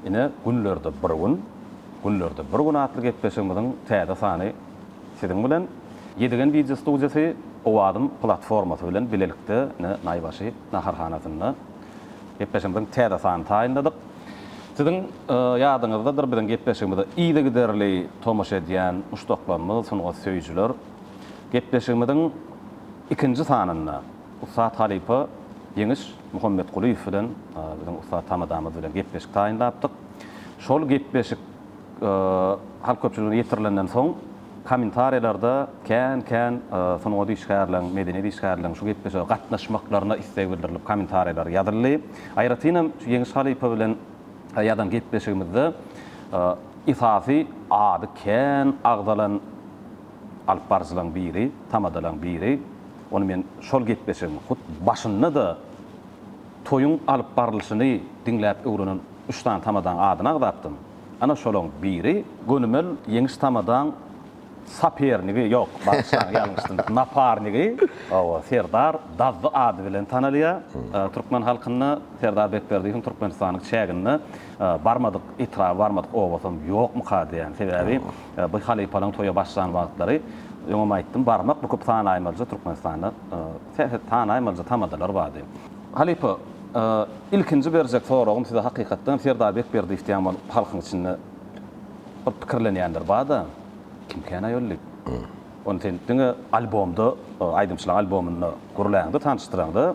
Ine, günlerde bir gün, günlerde bir gün atly gepleşigimiziň täze sany siziň bilen. Ýedigen wideo studiýasy Owazym platformasy bilen bilelikde ine Naýbaşy naharhanasynda gepleşigimiziň täze sanyny taýynladyk. Siziň ýadyňyzdadyr, biziň gepleşigimize yzygiderli tomaşa edýän muşdaklarymyz, sungat söýüjiler. Gepleşigimiziň ikinji sanynda ussat halypa Ýeňiş Muhammetgulyýew bilen biziň ussat tamadamyz bilen gepleşik taýynlapdyk. Şol gepleşik halk köpçüligine ýetirilenden soň kommentariýalarda kän-kän sungat işgärleriň, medeniýet işgärleriň şu gepleşige gatnaşmaklaryna isleg bildirilip kommentariýalar ýazyldy. Aýratynam şu Ýeňiş halypa bilen ýazan gepleşigimizde esasy ady kän agzalan, alyp baryjylaryň biri, tamadalaryň biri, ony men şol gepleşigiň hut başynda-da toýuň alyp barylyşyny diňläp öwrenen üç sany tamadaň adyny agzapdym. Ana, şolaryň biri. Gönümel Ýeňiş tamadaň sapernigi, ýok, bagyşlaň, ýalňyşdym, naparnigi, hawa, Serdar Dazdy ady bilen tanalýar. Türkmen halkynda Serdar Bekberdiýewiň Türkmenistanyň çäginde barmadyk etraby, barmadyk obasam ýokmuka diýýän. Sebäbi Biz halypalaň toýa başlan wagtlary, öňem aýtdym, barmak bukup sanaýmalja Türkmenistanda serhet sanaýmalja tamadalar bardy. Halypa, ilkinji berjek soragym size hakykatdanam Serdar Bekberdiýew diýýän bol halkyň içinde bir pikirlenýänler barda, kim kän aýol diýip. Ony sen diňe albomda, aýdymçylyk albomynda gürläňde, tanyşdyraňda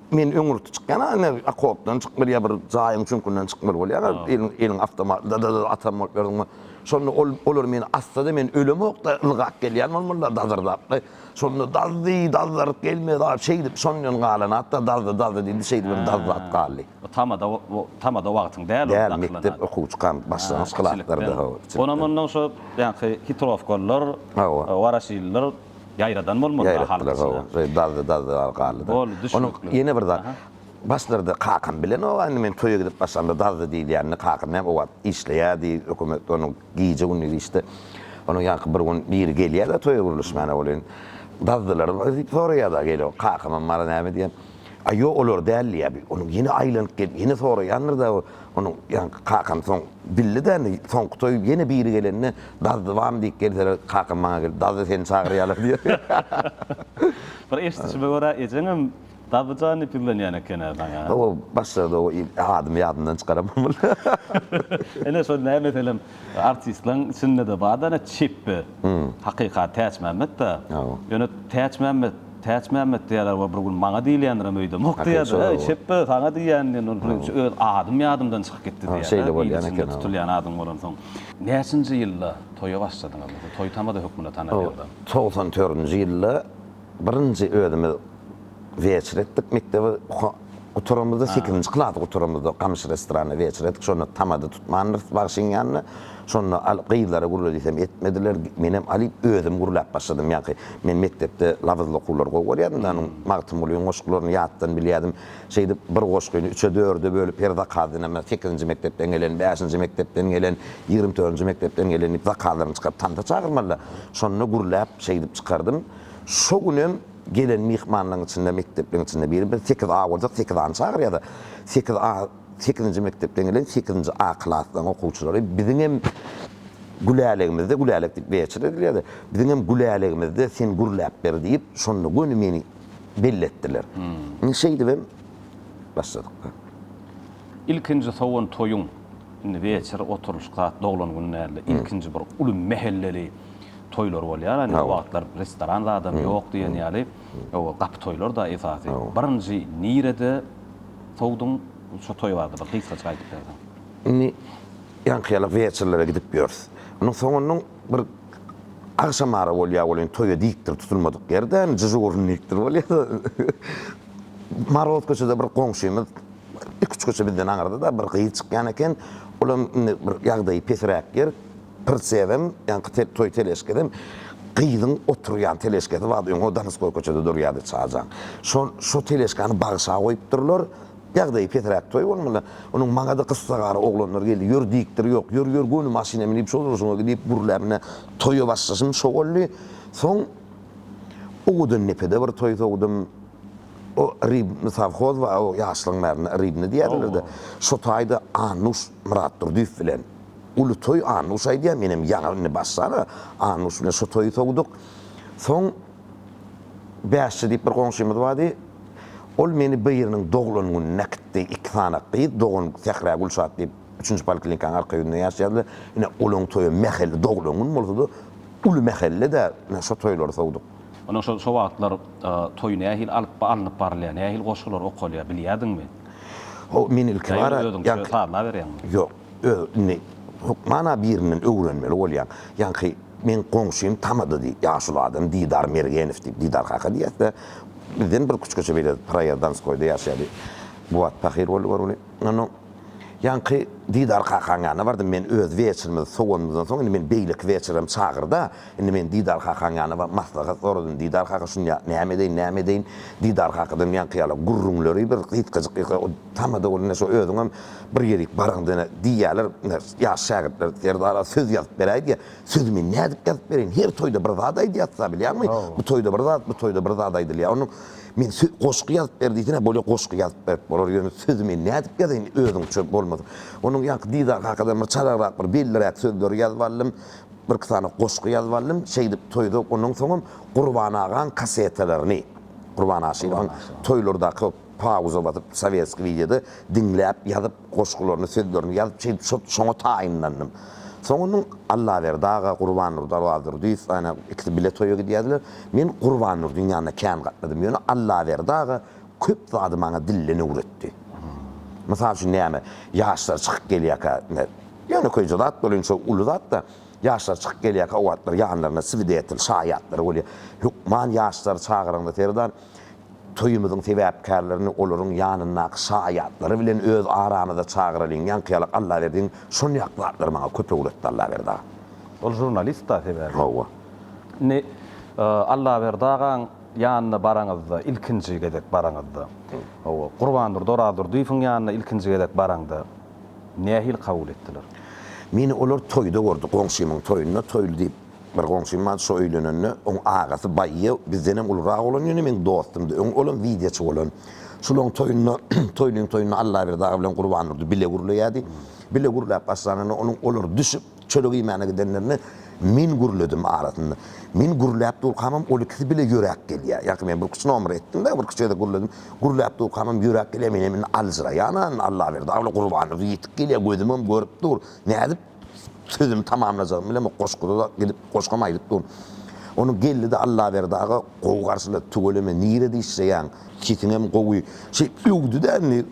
Men öň ýurtda çykýan ine okopdan çykyp bir ýa bir jaýyň çüňkünden çykmaly bolýan eliň eliň awtomat dadada atan bolup ýörüňmi şonda ol olar meni assada men ölemokda ylgap gelýän bolmalylar dazyrdapda şonda dazdy dazdaryp gelmedi a şeýdip şondan galan atda dazdy dazdy diýdi şeýdip hem dazdy at galdy. Bu tamada o tamada wagtyň däl ol Däl mekdep okuwçy kan başlangyç klaslarda hawa kiçilikden. Onam ondan şo ýaňky hitrowkalylar Hawa. waraşilliler Ýaýradan bolmaly da halk içine. Ýaýratdylar, hawa. Dazdy, dazdy bar galdy-da. Boldy, düşnükli. Onuň ýene bir zat. Başlarda kakam bilenok-a, indi men toýa gidip başlamda dazdy diýilýänini kakam näme o wagt işleýärdi, hökümetde onuň gije-gündiz işde. Onuň ýaňky bir gün biri gelýär-de toýa gürleşmäne welin, dazdylarmy diýip soraýar-da, gelýär. Kakamam bar, näme diýýär. A ýok, olar däldi ýa bir. Onuň ýene aýlanyp gelip, ýene soraýandyr-da bu, onuň, ýa kakam soň bildi-de indi, soňky toý ýene biri gelende, Dazdy barmy diýip gelseler, kakam maňa gelip, Dazdy seni çagyrýarlar diýer. Bir eşidişime görä, ejeňem Dazdy jan diýip ýüzlenýän eken-ä saňa? Hawa, başlarda o adymy ýadymdan çykaramok boldy. Ine, şol nämeselem, Artistleň içindede barda ene çepbe hakykat täçmämmetda ýöne täçmämmet täçmämmet diýýäler we bir gün maňa diýilýändirem öýdemok diýýärdi eý çepbe saňa diýýän diýen ol birinji öz adym ýadymdan çykyp gitdi diýýärdi il içinde tutulýan adyň bolansoň näçinji ýylda toýa başladyňyz toý tamada hökmünde tanalýandan togsan dördünji ýylda. Birinji özümiz weçe etdik mekdebi gutaramyzda sekizinji klasy gutaramyzda gamyş restoranyna weçe etdik şonda tamada tutmandyrys bagşyň ýanynda şonda gyzlara gurle diýsem etmediler menem alyp özüm gurläp başladym ýaňky men mekdepde labyzly okuwlary gowy görýärdim da onuň magtymgulynyň goşgularyny ýatdan bilýärdim şeýdip bir goşgyny üçe dörde bölüp her zakaz dynamda sekizinji mekdepden gelen bäşinji mekdepden gelen ýigrimi törünji mekdepden gelen diýip zakazlaryny çykaryp tansa çagyrmalylar şonda gurläp şeýdip çykardym. Şo günem gelen myhmanlaryň içinde mekdepleriň içinde biri biz sekiz A boljak, sekiz A-ny çagyrýarys. Sekiz A, sekizinji mekdepden gelen sekizinji A klaslaryň okuwçylary biziňem Gülälegimizde, Gülälek diýip Weçer edilýärdi. Biziňem Gülälegimizde sen gürläp ber diýip, şonda göni meni belli etdiler. Indi şeýdibem başladyk. Ilkinji sowan toýuň, indi Weçer oturylyşyk zat doglan gün däldi. Ilkinji bir uly mähelleli. toýlar bolýar, hany o wagtlar restoran zadam ýok diýen ýaly, o gapy toýlar-da esasy. Birinji nirede sowduň, şo toý barada bir gysgajyk aýdyp berseň. Indi ýaňkyýaly weçerlere gidip ýörüs. Onuň soňundan bir agşam ara bolýar, ol indi toýa dikdir tutulmadyk ýerde, dežurnlikdir bolýar-da. Moroz köçede bir goňşymyz, iki-üç köçe bizden aňyrda-da bir gyz çykýan eken, ol hem indi bir ýagdaýy pesiräk ýer. Pirsenem, ýaňky toý teleşkasem gyzyň oturýan teleşkasy bardy, öň o Donskoý köçede durýardy çaýjaň. Şol, şo teleşkany bagşa goýupdyrlar. Ýagdaýy pesräk toý bolmaly. Onuň maňa-da gyssagara oglanlar geldi. Ýör diýipdir, ýok, ýör, ýör, göni maşyna münüp, şol urşuňa git diýip gürläp, ine, toýa başlaşym şo boldy. Soň owadan depede bir toý sowdum. O Rybny sowhoz bar, o ýaşlygyň bärinde Rybny diýerlerdi. Şo taýda Annuş Myratdurdyýew bilen Uly toý Annuş aýdýar, menem ýaňy indi başlary Annuş bilen şo toýy sowduk. Soň Bäşçi diýip bir goňşymyz bardy. Ol meni biriniň doglan gününe äkitdi. Iki sany gyz dogan Sähra Gülşat diýip üçünji poliklinikanyň arka ýüzünde ýaşaýardy. Ine, olaň toýy mähelle doglan gün bolsady. Uly mähelle-de ine şo toýlary sowduk. Ine şo şo wagtlar toý nähili alyp alnyp barylýar, nähili goşgular okalýar bilýärdiňmi? Ho, men ilki bara Ýa-da özüňçe sazlaberýäňmi? Ýok. Öz indi hökmana birinden öwrenmeli bolýan. Ýaňky meň goňşym tamada diý, ýaşuly adam Didar Mergenow diýip, Didar kaka diýýäs-dä. Bizden bir küçgeçe beýle Proýazdanskoýda ýaşaýardy. Bu wagt pahyr boldy görgüli. Indi ýaňky Didar kakaň ýanyna bardym. Men öz weçerimizi sowanymyzdan soň, indi meni beýleki weçerem çagyr-da. Indi men Didar kakaň ýanyna baryp maslahat soradym. Didar kaka şunda näme edeýin, näme edeýin? Didar kakadan ýaňky ýaly gürrüňleri bir gysgajyk. Tamada ol ine şo özüňem bir gezek baryň dene diýýäler ine ýaş şägirtler Serdara söz ýazyp beräý diýýä. Sözi men nädip ýazyp bereýin her toýda bir zat aýdýasda bilýäňmi? Bu toýda bir zat bu toýda bir zat aýdylýa. Onuň men sö goşgy ýazyp ber diýsene bolýa goşgy ýazyp berip bolar ýöne sözi men nädip ýazaýyn özüňçe bolmasa. Onuň ýaňky Didar kakadan bir çalagrak bir belliräk sözleri ýazyp aldym. Birki sany goşgy ýazyp aldym. Şeýdip toýda onuň soňam Gurban agaň kasetalaryny Gurban Aşyrowyň toýlardaky Pauza basyp sowetskiý wideoda diňläp ýazyp goşgularyny sözlerini ýazyp şeýdip şot şoňa taýynlandym. Soň onuň Allaberdi aga, Gurbannurdy Arazgurdyýew ana ikisi bile toýa gidýärdiler. Men Gurbannurdyň ýanyna kän gatnadym. Ýöne Allaberdi aga köp zady maňa dilden öwretdi. Mysal üçin näme? Ýaşlar çykyp gelýärkä ine ýönekeýje zat bolýar indi şol uly zat-da. Ýaşlar çykyp gelýärkä o wagtlar ýanlarynda swidetel, şaýatlary bolýar. Hökman ýaşlary çagyranda Serdar Toýumyzyň sebäpkärlerini olaryň ýanyndaky şaýatlary bilen öz aramyza çagyralyň, ýaňkyýalak Allaberdiň şonýak zatlary maňa köp öwretdi Allaberdi aga. Ol žurnalist-da sebäbi. Hawa. Indi Allaberdi agaň ýanyna baraňyzda, ilkinji gezek baraňyzda, hawa, Gurbandurdy Orazdurdyýewiň ýanyna ilkinji gezek baraňda nähili kabul etdiler? Meni olar toýda gördi, goňşymyň toýunda, toýly diýip, Bir goňşym bar şo öýlenende oň agasy baýy bizdenem ulurak bolan ýöne meň dostumdy öň olam wideoçy bolan şolaň toýunda toýlyň toýunda Allaberdi aga bilen Gurbandurdy bile gürleýädi bile gürläp başlanynda onuň olar düşüp çörek iýmäne gidenlerinde men gürledim arasynda men gürläp durkamam ol ikisi bile ýöräp gelýä ýaňky men bir küç nomer etdimda bir küçede gürledim gürläp durkamam ýöräp gelýä menem indi aljyraýan Allaberdi aga bilen Gurbandurdy ýetik gelýä gözümem görüp dur nädip Sözümi tamamlajagym bilen bu goşguda-da gidip goşgam aýdyp dur. Ony geldi-de Allaberdi aga gowy garşylady, Tüweleme, nire dişleýäň, sesiňem gowy, şeýt öwdi-de indi,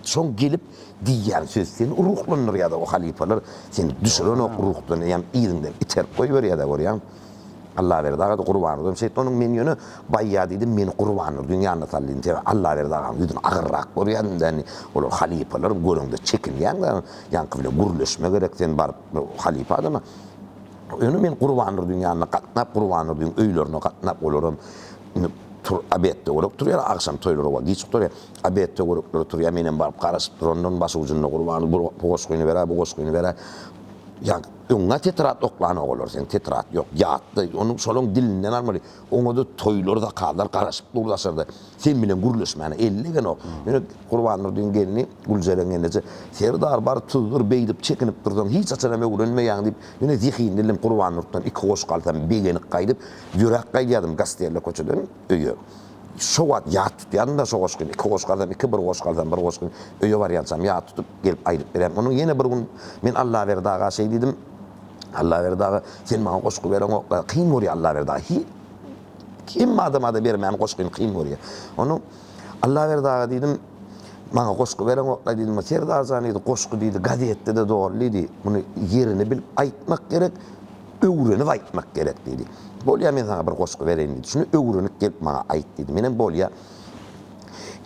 Şoň gelip diýýän söz seni ruhlandyrýa-da o halypalar seni düşürenok ruhdan, eýýäm yzyňdan iterip goýberýä-dä görýäňmi? Allaberdi aga-da Gurbannurdam şeýtdi. Onuň men ýöne baýýa diýdim, meni Gurbannurdyň ýanyna sal diýdim. Sebäbi Allaberdi aganyň ýüzüni agyrrak görýädim dä indi. Olar halypalar, göreňde çekinýäň dä. Ýaňky bilen gürleşme gerek sen baryp halypa adama. Ýöne men Gurbannurdyň ýanyna gatnap, Gurbannurdyň öýlerine gatnap, olaram indi tur, obed-töwerek turýar, agşam toýlar oba giç gutarýar. Obed-töwereklere turýar, menem baryp garaşyp durandyr, başy ujunda Gurbanurdy bir goşgyny ber-ä, bu goşgyny ber-ä. Ýa, Öňňä tetrat oklan ogalar sen tetrat ýok ýatda ony şolaň dilinden almaly oňada toýlar zakazlar garaşyp dur daşarda sen bilen gürleşmäne ellegenok ýöne Gurbandurdyň gelni Güljeren eneje Serdar bar tuzdur beýdip çekinip dursaň hiç haçanam öwrenmeýäň diýip ýöne zehinli ilim Gurbandurtdan iki goşgy alsam begenip gaýdyp ýöräp gaýdýardym Gastelle köçeden öýe şo wagt ýat tutýardym-da şo goşgyny iki goşgy alsam iki bir goşgy alsam bir goşgyny öýe barýançam ýat tutup Gelip aýdyp berýän. Onuň ýene bir gün men Allaberdi aga şeý diýdim, Allaberdi aga, sen maňa goşgy bereňok-la, kyn görýär Allaberdi aga. Hi, hemme adama-da bermäni goşgyny kyn görýär. Onuň, Allaberdi aga diýdim, maňa goşgy bereňok-la diýdim, Serdar jan diýdi, goşgy diýdi, gazetde-de doly diýdi, muny ýerini bilip aýtmak gerek, öwrenip aýtmak gerek diýdi. Bolýa, men saňa bir goşgy bereýin diýdi, şuny öwrenip gelip maňa aýt diýdi. Menem bolýa,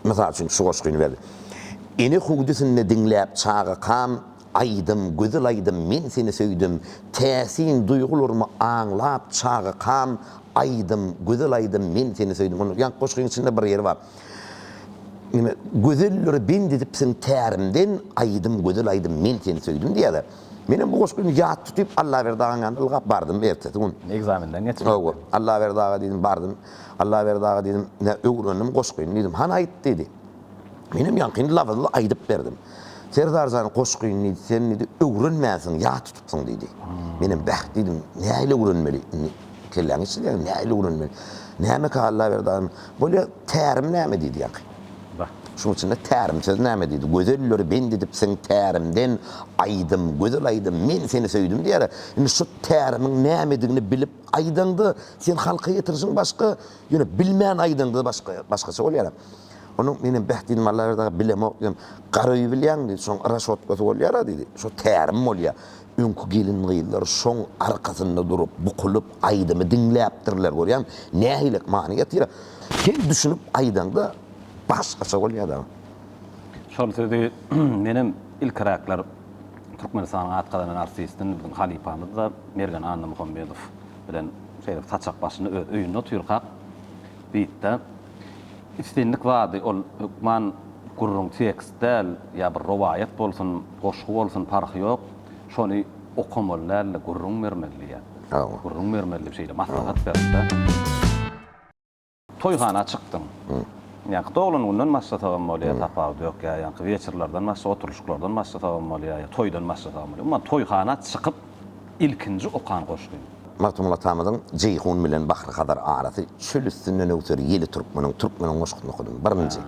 Mysal üçin şu goşgyny berdi. Ene hüwdüsinde diňläp çagakam aýdym, gözel aýdym Men seni söýdüm, täsin duýgularymy aňlap çagakam aýdym, gözel aýdym Men seni söýdüm. Onda ýa goşgyň içinde bir ýeri bar. Nime gözelleri bend edipsiň tärimden aýdym, gözel aýdym Men seni söýdüm diýýärler. Menem bu goşgyny ýat tutyp Allaberdi agaň ýanyna ylgap bardym ertesi gün. Ekzamenden geçip. Hawa, Allaberdi aga diýdim bardym. Allaberdi aga diýdim, ine, öwrendim goşgyny diýdim. Hany aýt diýdi. Menem ýaňkyny labyzly aýdyp berdim. Serdar jan goşgyny diýdi, sen diýdi, öwrenmänsiň, ýat tutupsyň diýdi. Menem bäh diýdim, nähili öwrenmeli? Indi kelläň işleýär, nähili öwrenmeli? Nämekä Allaberdi agam, bolýa tärim näme diýdi ýaňky. Bah. Şunuň içinde tärim söz näme diýdi. Gözelleri bend edipsiň tärimden, aýdym, gözel aýdym, men seni söýdüm diýýär-ä. Indi şu tärimiň nämedigini bilip, Aýdaňda sen halka ýetirişiň başga, ýöne bilmän aýdaňda başga, başgaça bolýar. Onuň menem beh diýdim Allaberdi aga bilemok diýdim. Garawy bilýäňmi diýdi. Şoň raşotkasy bolýara diýdi. Şo tärim bolýar. Öňki gelin-gyzlar şoň arkasynda durup, bukulyp aýdymy diňläpdirler görýäňmi. Nähilek many ýetirýär. Sen düşünip aýdaňda başgaça bolýar dagy. Şol sözi menem ilkiräkler Türkmenistanyň at gazanan artisti biziň halypamyz-da Mergen Annamuhammedow bilen şeýle saçak başynda öz öýünde otyrkak diýipdi. Islendik zady ol hökman gürrüň tekst däl, ýa bir rowaýat bolsun, goşgy bolsun parhy ýok, şony okamaly däl-de gürrüň bermeli diýýär. Gürrüň bermeli diýip şeýle maslahat beripdi. Toýhana çykdyň. Ýaňky doglan günden başlasagam bolýar, tapawudy ýok. Ýa ýaňky weçirlerden başla, oturyşyklardan başlasagam bolýar, ýa toýdan başlasagam bolýar. Umuman, toýhana çykyp ilkinji okan goşgyň? Magtymguly atamyzyň Jeýhun bilen Bahry-Hazar arasy, Çöl üstünden öwser ýeli türkmeniň, Türkmeniň goşgusyny okadym. Birinji.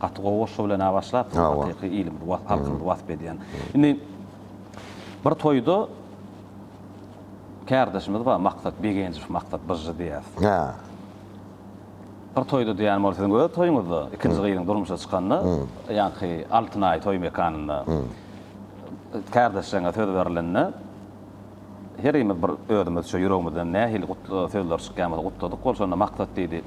Gaty gowy goşgy bilen-ä başlapsyň. Hawa. Hakyky ilimizi, halkymyzy wasp edýän. Indi bir toýda. Kärdeşimiz bar Maksat Begenjow Maksat Byžžy diýýäs. Hä. Bir toýda diýýän ol siziň öz toýuňyzda ikinji gyzyň durmuşa çykanda ýaňky Altyn Aý toý mekanynda kärdeşjeňe söz berilende herimiz bir özümizçe ýüregimizden nähili gutly sözler çykýan bolsa gutladyk ol şonda Maksat diýdi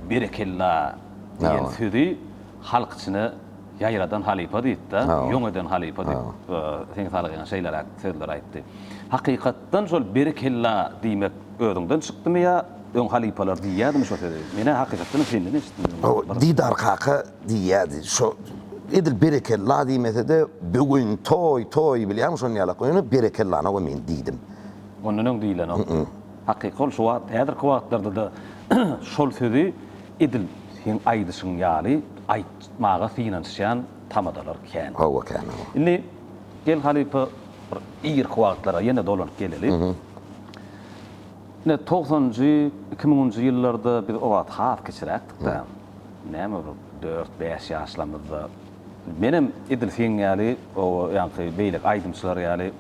Berekella diýen sözi Halk içine ýaýradan halypa diýipdi, ýoň eden halypa diýip, Seň salygyňa şeýleräk sözler aýtdy. Hakykatdan şol berekella diýmek özüňden çykdymy ýa öň halypalar diýýädimi şo sözi? Men-ä hakykatdanam senden eşitdim. Didar kaka diýýädi. Şo edil berekella diýmese-de, bu gün toý, toý bilýäňmi şony ýalak goýany, berekellany-ow men diýdim. Ondan öň diýilenok. Hakyky ol şu wagt, häzirki wagtlarda-da şol sözi Edil seň aýdyşyň ýaly aýtmaga synanyşýan tamadalar kän. Hawa kän hawa. Indi gel halypa bir irki wagtlara ýene dolanyp geleli. Ine togsanjy, iki müňünji ýyllarda biz o wagt has kiçiräkdik-de. Näme bir dört, bäş ýaşlamyzda. Menem edil seň ýaly o ýaňky beýleki aýdymçylar ýaly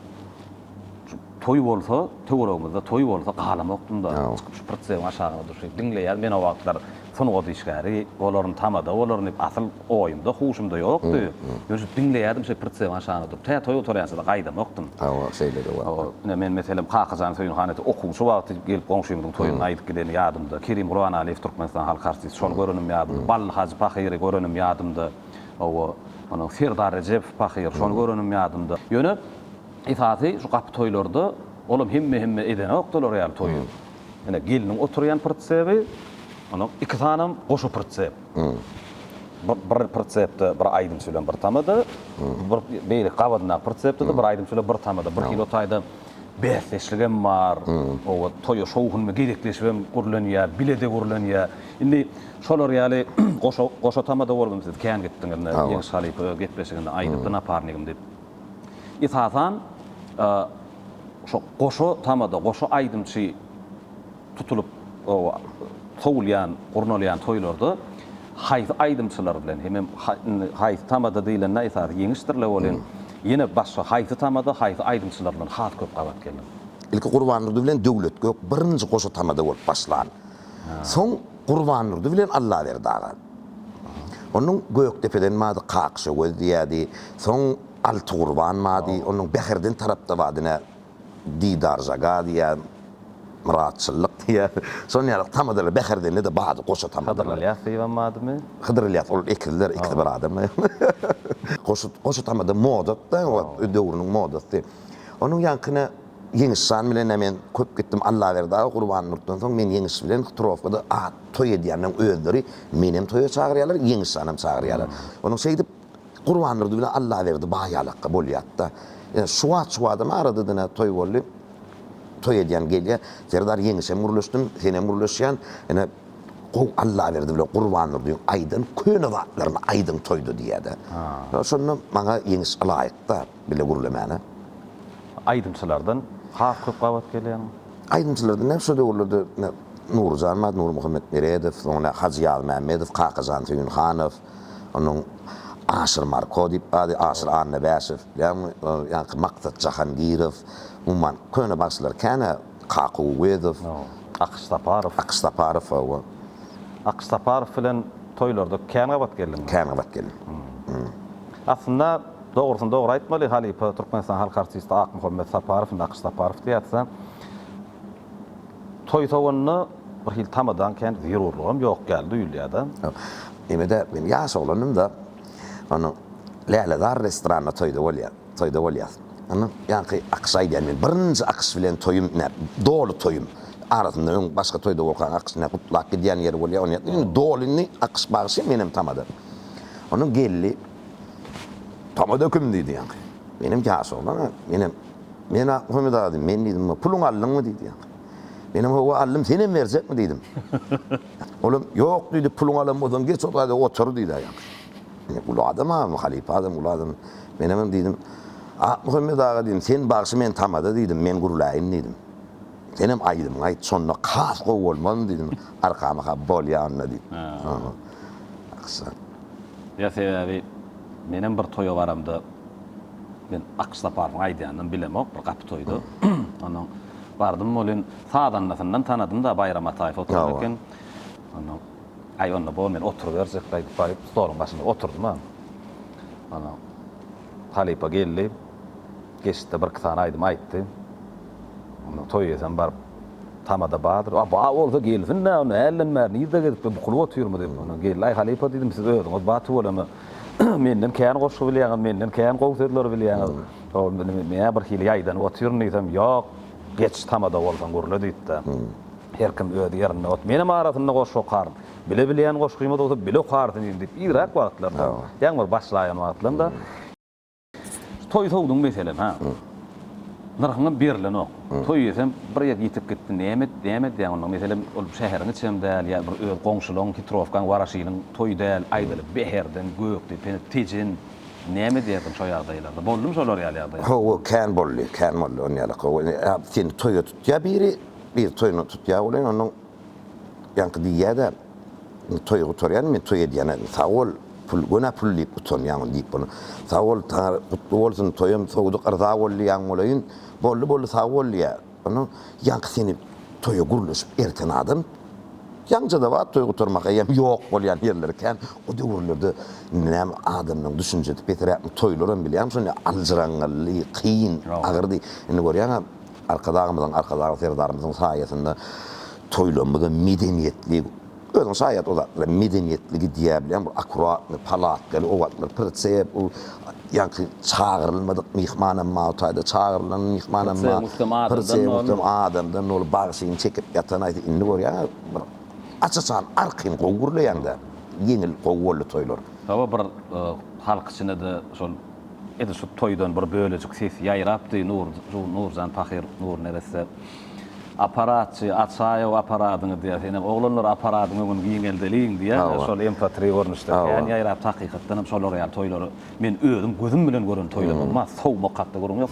şu Toý bolsa, töweregimizde toý bolsa galamokdym-da, çykyp şu prtsewiň aşagyna durşy, diňleýärin. Men o wagtlar sungat işgäri bolaryn, tamada bolaryn diýip, asyl oýumda, huşumda ýokdy. Ýöne şu diňleýärdim şeý prtsewiň aşagyna durup. Tä toý gutarýança-da gaýdamokdym. Hawa, şeýle-de bolupdyr. Ine, men, meselem, Kakajan Söýünhanede okuwçy wagty gelip goňşymyzyň toýuna aýdyp gideni ýadymda. Kerim Guranaliýew, Türkmenistan halk artisti, şony görenim ýadymda. Bally Hajy pahyry görenim ýadymda. Hawa, ony Serdar Rejepow pahyr, şony görenim ýadymda. Ýöne. Esasy şu gapy toýlarda olam hemme hemme edenok dolar ýaly toýy. Ine gelniň oturýan prtsebi, ony iki sanam goşa prtsep. Bir prtsepde bir aýdymçy bilen bir tamada, bir beýleki gabadyndaky prtsepde-de bir aýdymçy bilen bir tamada. Bir hili o taýda bäsdeşlik hem bar. Oba toýa şowhunly gezekleşip hem gürlenýär, bile-de gürlenýär. Indi şolar ýaly goşa goşa tamada bolup hem siz kän gitdiňiz indi Ýeňiş halypa gepleşiginde aýdypdy naparnigim diýip. Esasan, şo goşa tamada, goşa aýdymçy tutulyp sowulýan, gurnalýan toýlarda haýsy aýdymçylar bilen hem hem haýsy tamada diýlende esasy ýeňişdirle bolan ýene başga haýsy tamada, haýsy aýdymçylar bilen has köp gabat geldiň? Ilki Gurbandurdy bilen Döwletgök birinji goşa tamada bolup başlan. Soň Gurbandurdy bilen Allaberdi aga. Onuň Gökdepeden bady Kakşagöz diýýärdi. Soň Altygurban bady. Onuň Bäherden tarapda bady ine Didarjaga diýýär, Myratçyllyk diýýär. Şon ýaly tamadalar Bäherdende-de bady goşa tamadalar. Hydyr Ylýas diýibem badymy? Hydyr Ylýas, ol ekizler, ikisi bir adam. Goşa tamada moda-da, döwrüniň modasy. Onuň ýaňky ine. Ýeňiş jan bilen-ä men köp gitdim Allaberdi aga Gurbannurtdan soň men Ýeňiş bilen Htrowkada at toý edýänleň özleri menem toýa çagyrýarlar Ýeňiş janam çagyrýarlar. Onuň şeýdip Gurbannurdy bilen Allaberdi baýalakga bolýatda. Ýöne şu wagt şu wagtam arada dine toý boldy. Toý edýän gelýä. Serdar Ýeňişem gürleşdim senem gürleşýän. Ine gowy Allaberdi bilen Gurbannurdyň aýdan köne zatlaryny aýdyň toýda diýýädä. Şonda maňa Ýeňiş ylaýykda. bile gürlemäne. Aýdymçylardan has köp gabat gelen. Aýdymçylardan näme şo döwürlerde Nuryjan bar, Nurmuhammet Meredow, soň ine Hajy Ýazmämmedow, Kakajan Söýünhanow, onuň Aşyr Marko diýip bady, Aşyr Annabäşew, ýagny Maksat Jahangirow, umuman köne bagşylar känä. Kaku Uwezow. Akyş Saparow. Akyş Saparow, hawa. Akyş Saparow bilen toýlarda kän gabat geldiňmi? Kän gabat geldim. Aslynda, dogrusyny dogry aýtmaly, halypa Türkmenistanyň halk artisti Akmuhammet Saparow, indi Akyş Saparow diýýäs-ä, toý-sowanda bir hili tamadaň kän zerurlygam ýok ýaly duýulýar-da. Ýöne-de, men ýaş oglandym-da, onda Lälezar restoranyna toýda bolýar. Toýda bolýas. Ony ýaňky akyşa aýdýan men. Birinji akyş bilen toýum näp, doly toýum. Arasynda öň başga toýda bolkaň akyş näp gutlap gidýän ýeri bolýar. Ony ýatlaýan. Indi doly indi akyş bagşy menem tamada. Onuň geldi. Tamada kim diýdi ýaňky. Menem ýaş oglan a. Menem Men Ahmyt aga diýdim. Men diýdim bu puluňy aldyňmy diýdi ýaňky. Menem Hawa aldym. Senem berjekmi diýdim. Olam Ýok diýdi. Puluňy alan bolsaň geç o taýda otur diýdi ýaňky. Uly adam agam, halypa adam, uly adam. Men oňem diýdim, Akmuhammet aga diýdim, sen bagşy, men tamada diýdim, men gürläýin diýdim. Senem aýdymyňy aýt, şonda has gowy bolmazmy diýdim. Arkama ha, bolýa onda diýip. Aksakal. Ýa sebäbi menem bir toýa baramda, men Akş Saparowyň aýdýanynam bilemok, bir gapy toýda. Onnoň bardym, welin sazandasyndan tanadym-da, Baýram Ataýew oturan eken. Onnoň. Aý, onda bor, men oturyberjek gaýdyp baryp, stoluň başynda oturdymam. Onsoň halypa geldi. Geçdi-de birki sany aýdym aýtdy. Onda toý eýesem baryp, tamada bardyr. A bar bolsa gelsin-dä, onda hälden bäri nirde gezip-de bukulyp otyrmy diýip, onda geldi. Aý, halypa diýdim, siz özüňiz bar tüweleme. Menden kän goşgy bilýäňiz, menden kän gowy sözleri bilýäňiz. Ol meni birhili ýaýdanyp otyryn diýsem, ýok. Geç tamada bolsaň gürle diýipdi. Her kim öz ýerinde ot. Menem arasynda goşgy okaryn. Bile bilýän goşgymyz bolsa bile okarsyn indi diýip yzrak wagtlarda, ýagny bir başlaýan wagtlarynda Toý sowduň meselem, ha. Nyrhyňam berlenok. Toý diýsem, bir ýer ýitip gitdi. Näme näme edýäň onda? Meselem, ol şäheriň içem däl, ýa bir öz goňşulaň, hitrowkaň, waraşynyň toýy däl, aýdaly, Bäherden, Gökdepe, Tejen, Näme edýärdiň şo ýagdaýlarda? Boldumy şolar ýaly ýagdaýlar? Hawa, kän boldy, kän boldy on ýalak. Hawa, indi seni toýa tutýar biri, biri toýuna tutýar welin, ondan ýaňky diýýär-de, Indi toýy gutarýan, men toý edýän-ä, indi sag bol, pul, göni pul diýip utanýaňmy diýip bolýar. Sag bol, taňry gutly bolsun, toýam sowduk, yrza bol diýýän bolaýyn. Boldy, boldy, sag bol diýýär. Onuň ýaňky seni toýa gürleşip erten adam, ýaňjada bar toý gutarmak eýýäm ýok bolýan ýerleri kän, o döwürlerde näme adamlaryň düşünjesi peseräkmi toýlaram bilýäňmi şonda aljyraňňylly, kyn, agyrdy. Indi görýäňä Arkadagymyzyň, Arkadagly Serdarymyzyň saýasynda toýlarymyzam medeniýetli, Özüň şaýat o zatlara medeniýetli gidýär bilen bu akuratny palatkaly o wagtlar prtseýe bu ýaňky çagyrylmadyk myhmanam ma o taýda çagyrlan myhmanam ma prtseýe muhtem adamdan doly bagşyny çekip ýatan aýsy indi görýäňä bir aç açan arkin gowy gürleýäňdä ýeňil gowy boldy toýlar. Hawa bir halk içinde-de şol edil şu toýdan bir bölejik ses ýaýrapdy Nur Nurjan pahyr Nur neresse. Aparatçy, Açaýow aparadyňy diýýär. Senem, Oglanlar aparadyň öňüni giňeldeliň diýýär. Şol MP3 görnüşde kän ýaýrapdyr. Hakykatdan hem şolar ýaly toýlary men özüm gözüm bilen gören toýlar bolman, sowmak hakda gürrüň ýok.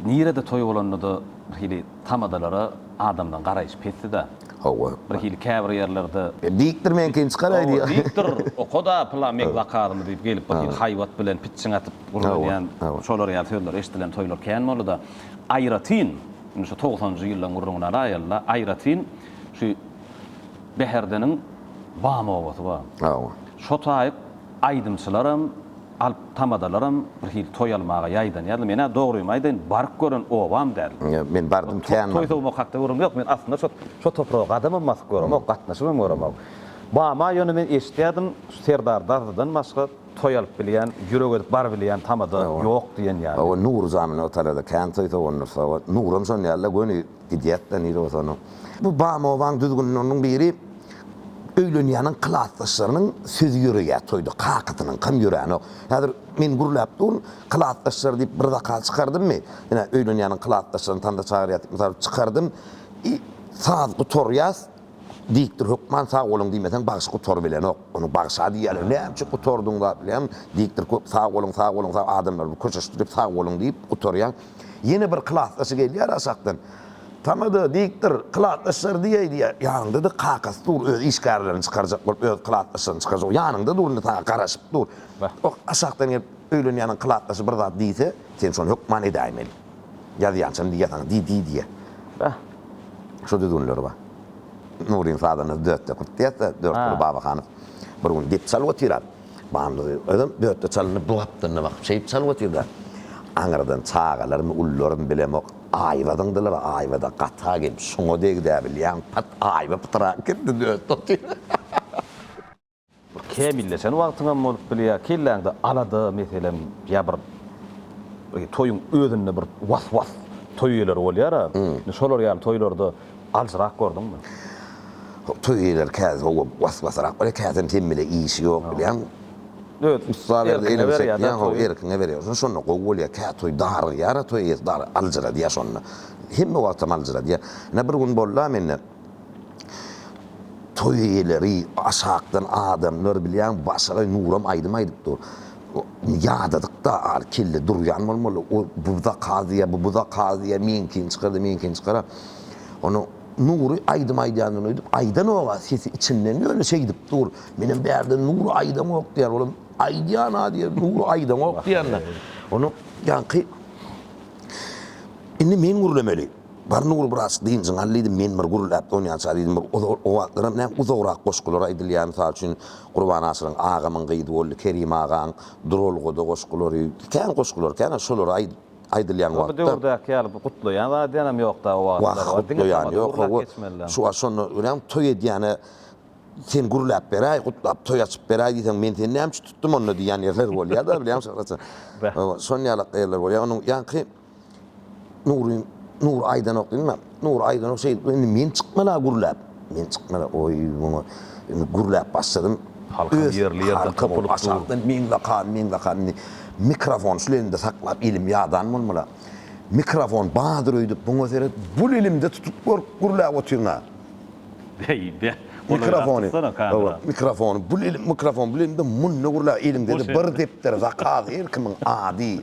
Nirede toý bolanda-da bir hili tamadalara adamlaryň garaýşy pesdi-dä. Hawa. Birhili käbir ýerlerde. Dikdir meňkin çykar aý diýýär. Dikdir, oka-da pylan meň zakadymy diýip gelip birhili haýbat bilen pitjiň atyp gürleýän şolar ýaly sözler eşdilen toýlar kän boldy-da. Aýratyn, indi şu togsanjy ýyllaryň gürrüňini alaýaly-da, aýratyn şu Bäherdeniň Bam obasy bar. Hawa. Şo taýy Aýdymçylaram, alp tamadalaram bir hili toý almaga ýaýdanýarlar. Men-ä dogrymy aýdaýyn, baryp gören obam däl. Men bardym, kän bardym. Toý sowmak hakda gürrüň ýok. Men aslynda şo şo topraga gadamam basyp göremok, gatnaşybam göremok. Bama ýöne men eşitýärdim, Serdar Dazydan başga toý alyp bilýän, ýürek edip barybilýän tamada ýok diýen ýaly. Hawa, Nury janyn o talada kän toý sowandyrsa, Nuram şon ýaly-da göni. Gidýäs-de nirä bolsa onuň. Bu bam obaň düzgünleriniň biri, öýlenýäniň klasdaşlarynyň sözi ýöreýär toýda, kakasynyňkam ýöränok. Häzir men gürläp durun, klasdaşlar diýip bir zakaz çykardymmy, ine, öýlenýäniň klasdaşlaryny tanda çagyrýas diýip mysal çykardym, i, saz gutarýas, Dikdir hökman sag boluň diýmeseň bagşy gutarybilenok. Ony bagşa diýýärler. Näme üçin gutardyň zat bilen? Dikdir köp sag boluň, sag boluň, sag adamlar bir köşeşdirip sag boluň diýip gutarýan. Ýene bir klasdaşy gelýär aşakdan. Tamada, dikdir, klasdaşlar diýeý diýýär. Ýanynda-da kakasy dur, öz işgärlerini çykarjak bolup, öz klasdaşlaryny çykarjak. Ýanyňda dur indi saňa garaşyp dur. Aşakdan gelip öýlenýäniň klasdaşy bir zat diýse, sen şony hökman edäýmeli. Ýazýançam diýýä saňa di di diýýä. Bäh. Şo düzgünleri bar. Nuryň sazanda dörtde kurt diýýäs-dä, Dörtguly Babahanow bir gün dep çalyp otyrar. Bandy özem dörtde çalynyp bu gapdalynda bakyp şeýip çalyp otyr-da. Aňyrdan çagalarmy, ullarmy bilemok, aýba zyňdylar. Aýba-da gata gelip şuňa degdi-ä bilýäň. Pat aýba pytrak girdi dörtde otyr. Bir kämilleşen wagtyňam bolup bilýär, kelläňde alada, meselem, ýa bir toýuň özünde bir was-was toý eýeleri bolýar-a. Indi şolar ýaly toýlarda aljyrak gördüňmi? Toý eýeleri käte sowa was-wasyrak bolýar, kätem sen bile işi ýok bilýän. Öz erkiňe berýär-de toýy. Erkiňe berýär. Şonda şonda gowy bolýar. Kä toý darygýar-a, toý eýesi aljyradýar şonda. Hemme wagtam aljyradýar. Ine bir gün boldy-a mende. Toý eýeleri, aşakdan adamlar bilýäň Başagaý Nuram aýdym aýdyp dur. Ýadadyk-da ar kelle durýan bolmaly. O bu zakaz diýýär, bu bu zakaz diýýär, meňkin çykar-da, meňkin çykar-a. Onda Nury aýdym aýdýandan öýdüp aýdanok-a, sesi içinden ýöne şeýdip dur. Menem bärde Nury aýdanok diýýär. Olam aýdýan-a diýýär, Nury aýdanok diýýän-de. Onda ýaňky Indi men gürlemeli. Bar Nury biraz dynjyňy al diýdim, men bir gürläp donýança diýdim, bir o wagtlaram näme uzagrak goşgular aýdylýar, mysal üçin Gurban Aşyryň Agamyň gyzy boldy, Kerim agaň Duralgada goşgulary, kän goşgular kän, şolary aýdyp aýdylýan wagtda. Bu döwürdäki ýaly bir gutlaýan zadýanam ýokda o wagtlar. Wah, gutlaýan ýok, hawa, şu wagt şonda örän toý edýäne sen gürläp beräý, gutlap toý açyp beräý diýseň, men seni näme üçin tutdum onda diýýän ýerler bolýar-da, bilýäňmi Şyhrat jan? Şon ýalak ýerler bolýar, onuň ýaňky Nury, Nury aýdanok diýme. Nury aýdanok şeýdip, indi men çykmala gürläp. Men çykmala, oý, muňa indi gürläp başladym. Halkam ýerli-ýerden topulup dur. Meň lakabym, meň lakabym indi mikrofon şul elimde saklap, elim ýadan bolmala. Mikrofon badyr öýdüp, muňa seret, bul elimde tutup görk, gürläp otyryn-a. Beý, beh, golaýrak tutsana kamera. Hawa, mikrofony bul elim, mikrofon bul elimde, munda gürläp, elimde-de bir depder, zakaz, her kimiň ady.